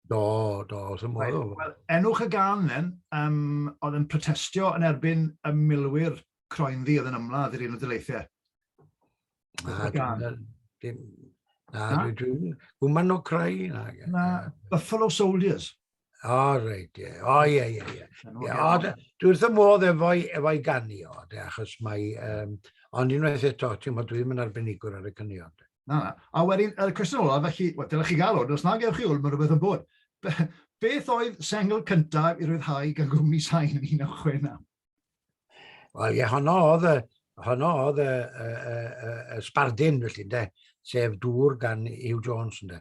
Speaker 1: Do, do, wrth y modd. Well, enwch y gan then, um, oedd yn protestio yn erbyn y milwyr croen ddi oedd yn ymladd i'r un o dyleithiau. Na, dim, na, dwi, dwi, gwman o crai. Na, na, Buffalo Soldiers. O, oh, reit, ie. O, ie, ie, ie. O, dwi wrth y modd efo'i efo ganu o, de, achos mae... Um, ond unwaith eto, ti'n modd, dwi'n mynd arbenigwr ar y cynnion. Na, na. A wedyn, y cwestiwn olaf, felly, wel, dylech chi gael hwn, os na gewch chi hwn, mae rhywbeth yn bod. Beth oedd sengl cyntaf i ryddhau gan gwmni sain yn 1969? Wel, ie, honno oedd y, honno oedd y, y, y, y, y sbardun, felly, de, sef dŵr gan Hugh Jones, de.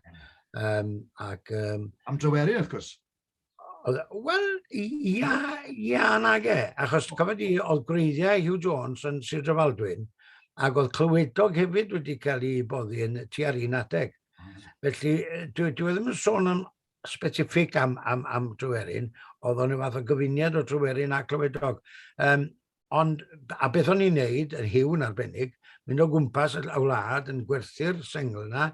Speaker 1: Um, ac, um, Am dryweru, wrth gwrs. Wel, ia, ia nag e. Achos, cofod i, oedd gwreiddiau Hugh Jones yn Sir Drefaldwyn, ac oedd clywedog hefyd wedi cael ei boddi yn tua'r un adeg. Felly, dwi, dwi ddim yn sôn am specific am, am, am Tryweryn, oedd o'n rhyw fath o gyfuniad o Tryweryn a Clywedog. Um, ond, a beth o'n i'n neud, yr hiw yn arbennig, mynd o gwmpas y wlad yn gwerthu'r sengl yna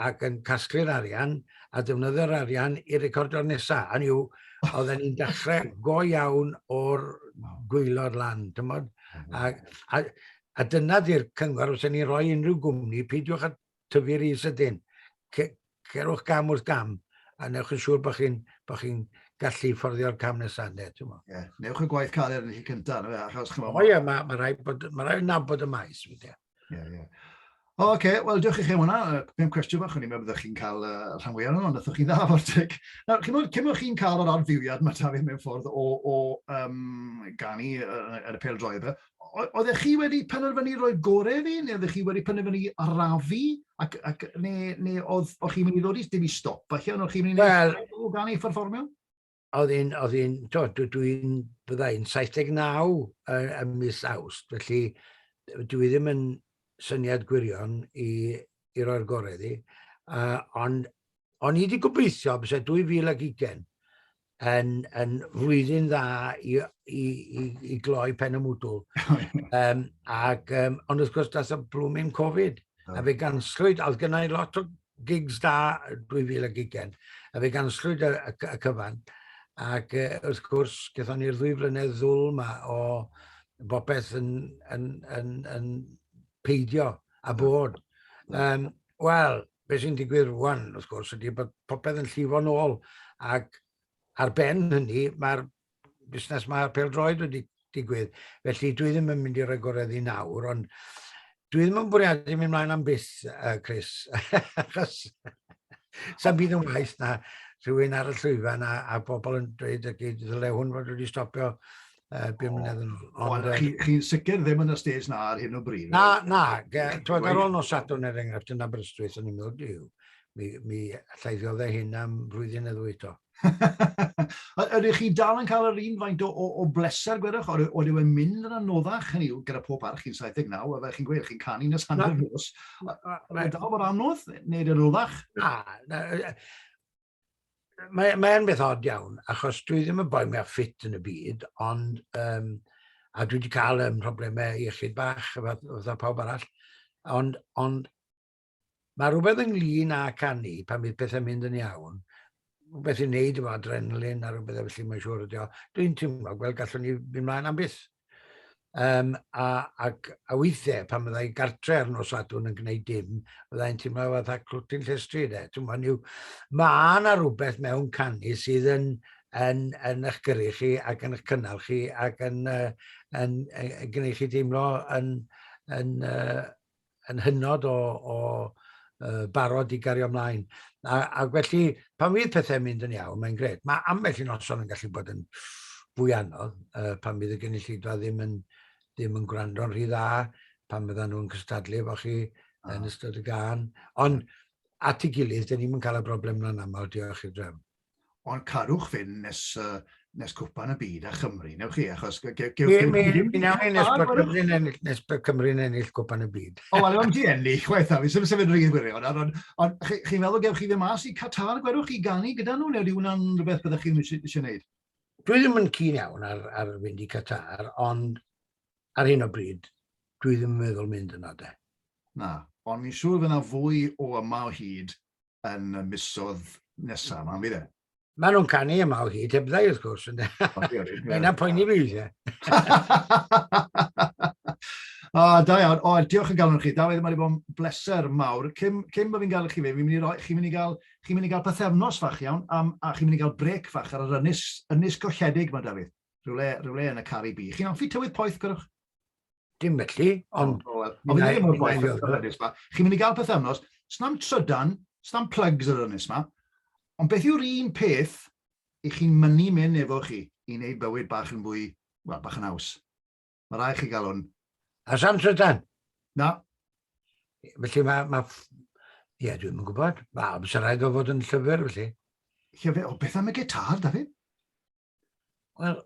Speaker 1: ac yn casglu'r arian a defnyddio'r arian i recordio'r nesaf. Hynny yw, oedd e'n dechrau go iawn o'r gwylod lan, tymod? A, a, a dyna di'r cyngor os ni'n rhoi unrhyw gwmni, peidiwch a tyfu rhy sydyn. Cerwch gam wrth gam a newch yn siŵr bod chi'n bo chi gallu fforddio'r cam nesaf. Ne, yeah. Newch y gwaith cael eraill cyntaf. No, achos, o oh, yeah, mae ma rhaid bod, ma rhaid nabod y maes. Yeah, yeah. O, oce, okay. wel, diolch i chi am hwnna. Pem cwestiwn fach, o'n i'n meddwl byddwch chi'n cael uh, rhan fwy arno, ond ydych chi'n dda o'r teg. Nawr, chi'n meddwl, cymwch chi'n cael yr adfywiad mae Tafydd mewn ffordd o, o um, ganu ar y pel droed, oeddech chi wedi penderfynu rhoi gore fi, neu oeddech chi wedi penderfynu arafu, ac, ac, neu, neu oedd, oedd chi'n mynd i ddod i ddim i stop, felly, oedd chi'n mynd i well, o gan ei fforfformio? Oedd un, oedd un, to, dwi, dwi'n, byddai'n 79 yn, yn mis awst, felly dwi ddim yn syniad gwirion i, i roi'r gorau iddi, uh, ond o'n i wedi gobeithio bys 2020, yn, yn flwyddyn dda i, i, i, i gloi pen y mwdwl. um, ac, um, ond wrth gwrs, das y blwmin Covid. Oh. A fe ganslwyd, oedd gennau lot o gigs da 2000 a gigen. A fe ganslwyd y, y, y cyfan. Ac uh, wrth gwrs, gython ni'r ddwy flynedd ddwl yma o bopeth yn, yn, yn, yn, yn peidio a bod. Um, Wel, beth sy'n digwydd rwan, wrth gwrs, ydy bod popeth yn llifo'n ôl. Ac ar ben hynny, mae'r busnes mae'r peldroed wedi digwydd. Felly, dwi ddim yn mynd i roi goredd i nawr, ond dwi ddim yn bwriadu mynd mlaen am byth, uh, Chris. Achos, sa'n bydd yn waith na rhywun ar y llwyfan a, a bobl yn dweud, y gyd, ddyle hwn fod wedi stopio uh, bum mlynedd yn ôl. Ond chi, chi sicr ddim yn y stage na ar hyn o bryd? Na, na. Twyd ar ôl nos Sadwrn er enghraifft yn Aberystwyth yn ymwneud diw. Mi, mi llaiddio dde hyn am flwyddyn neu ddwy to. Ydych chi dal yn cael yr un faint o, o, o bleser, gwedwch, o'r oedd yw'n mynd yn anoddach, hynny yw, gyda pob parch chi'n 79, a fe chi'n gweud, chi'n canu nes hanner nos. Mae dal bod anodd, neu'n anoddach? Na, Mae'n mae beth od iawn, achos dwi ddim yn boi mwyaf ffit yn y byd, ond um, a dwi wedi cael um, problemau iechyd bach fatha pawb arall, ond, ond mae rhywbeth ynglyn â canu pan bydd pethau'n mynd yn iawn, rhywbeth i wneud efo adrenalin a rhywbeth efo felly mae'n siŵr ydi o. Dwi'n teimlo, gweld gallwn ni fynd mlaen am byth. Um, a, ac, a weithiau, pan fydda i'n gartre ar nos adwn yn gwneud dim, fydda i'n teimlo fatha clwtyn llestri, de. Teimlo niw, mae yna rhywbeth mewn canu sydd yn, yn, yn eich gyrru chi ac yn eich cynnal chi ac yn, uh, yn, yn, yn gwneud chi deimlo yn, yn, uh, yn hynod o, o uh, barod i gario ymlaen. A, a felly, pan fydd pethau'n mynd yn iawn, mae'n gred. Mae ambell i noson yn gallu bod yn fwy anodd, uh, pan fydd y gynulleidfa ddim yn, ddim yn gwrando'n rhy dda, pan fydda nhw'n cystadlu efo chi oh. yn ystod y gan. Ond at ei gilydd, dyn ni'n cael y broblem yna'n aml, diolch i'r drefn. ond carwch fynd nes, uh, nes cwpan y byd a Chymru, newch chi, achos... Mi nawn ni nes bod Cymru'n ennill, nes bod Cymru'n ennill cwpan y byd. O, wel, am ti ennill, chwaith a fi, sef sefyd rhywun gwirion, ond on, chi'n meddwl gewch chi fe mas i Qatar, gwerwch chi ganu gyda nhw, neu di hwnna'n rhywbeth byddwch chi'n eisiau gwneud? Dwi ddim yn cyn iawn ar, ar fynd i Qatar, ond ar hyn o bryd, dwi ddim yn meddwl mynd yna de. Na, ond mi'n siŵr fydd yna fwy o yma o hyd yn y misodd nesaf, ma'n fydd e? Maen nhw'n canu yma o hyd, heb ddau wrth gwrs. Mae yna poeni fi, ie. O, da iawn. O, diolch yn galon chi. Da wedi wedi bod yn bleser mawr. Cym, cym bod fi'n gael chi fe, fi'n mynd i roi, chi'n mynd i gael, chi'n mynd i gael pethefnos fach iawn, am, a chi'n mynd i gael brec fach ar yr ynys, ynys golledig mae Dafydd. Rhywle, rhywle yn y Cari Bi. Chi'n offi tywydd poeth, gwrwch? Dim felly, ond... O, wel, o, fi'n ddim yn poeth o'r ynys ma. Chi'n mynd i gael pethau ynos, snam trydan, snam plugs yr ynys ma. Ond beth yw'r un peth i chi'n mynnu mynd efo chi i wneud bywyd bach yn fwy, wel, bach yn haws? Mae rai chi gael hwn. A san trydan? Na. Felly mae... Ma, Ie, yeah, dwi'n yn gwybod. Wel, bys rhaid o fod yn llyfr, felly. Llyfr, o, beth am y gitar, David? Wel,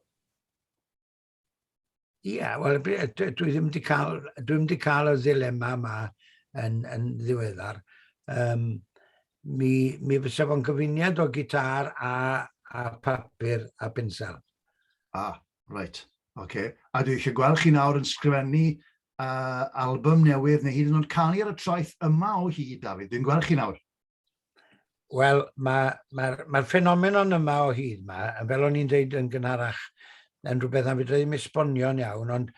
Speaker 1: ie, yeah, wel, dwi ddim wedi cael, dwi ddim wedi cael y ddilema yma yn, yn ddiweddar. Um, mi, mi fysa fo'n gyfuniad o gitar a, a papur a pensel. Ah, right, oce. Okay. A dwi eisiau gweld chi nawr yn sgrifennu uh, album newydd neu hyd yn oed canu ar y traeth yma o hyd, David. Dwi'n gweld chi nawr. Wel, mae'r ma, ma, ma ffenomenon yma o hyd yma, fel o'n i'n dweud yn gynharach, yn rhywbeth am fydra ddim esbonio'n iawn, ond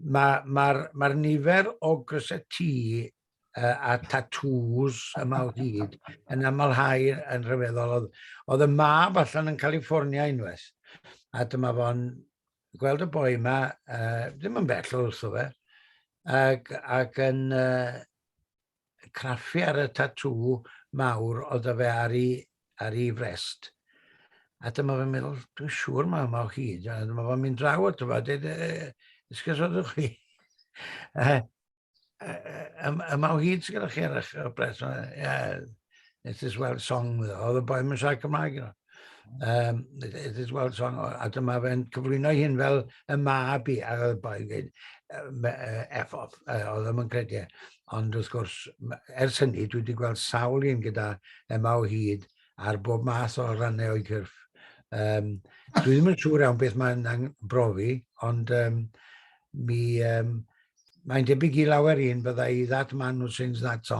Speaker 1: mae'r ma, ma, ma nifer o gryseti uh, a tatŵs yma o hyd yn amlhau yn rhyfeddol. Oedd, oedd y mab allan yn California unwaith, a dyma fo'n gweld y boi yma, uh, ddim yn bell o wrtho fe, ac, ac yn, uh, craffu ar y tatŵ mawr oedd 'da fe ar ei, ar ei frest. A dyma fe'n meddwl, dwi'n siŵr mae yma o hyd. A dyma fo'n mynd draw at yma, dweud, ysgysodwch chi. yma o hyd sy'n gyda chi ar eich brest. Ie, It is well song, oedd y boi mae'n siarad Cymraeg yno. Um, it, it is well song, a dyma fe'n cyflwyno hyn fel y mab i, a oedd y boi yn dweud, F off, oedd ddim yn credu. E. Ond wrth gwrs, ers hynny, dwi wedi gweld sawl un gyda yma o hyd ar bob math o rannau o'i cyrff. Um, dwi ddim yn siŵr iawn beth mae'n brofi, ond um, mi, um, mae'n debyg i lawer un byddai that man who sings that song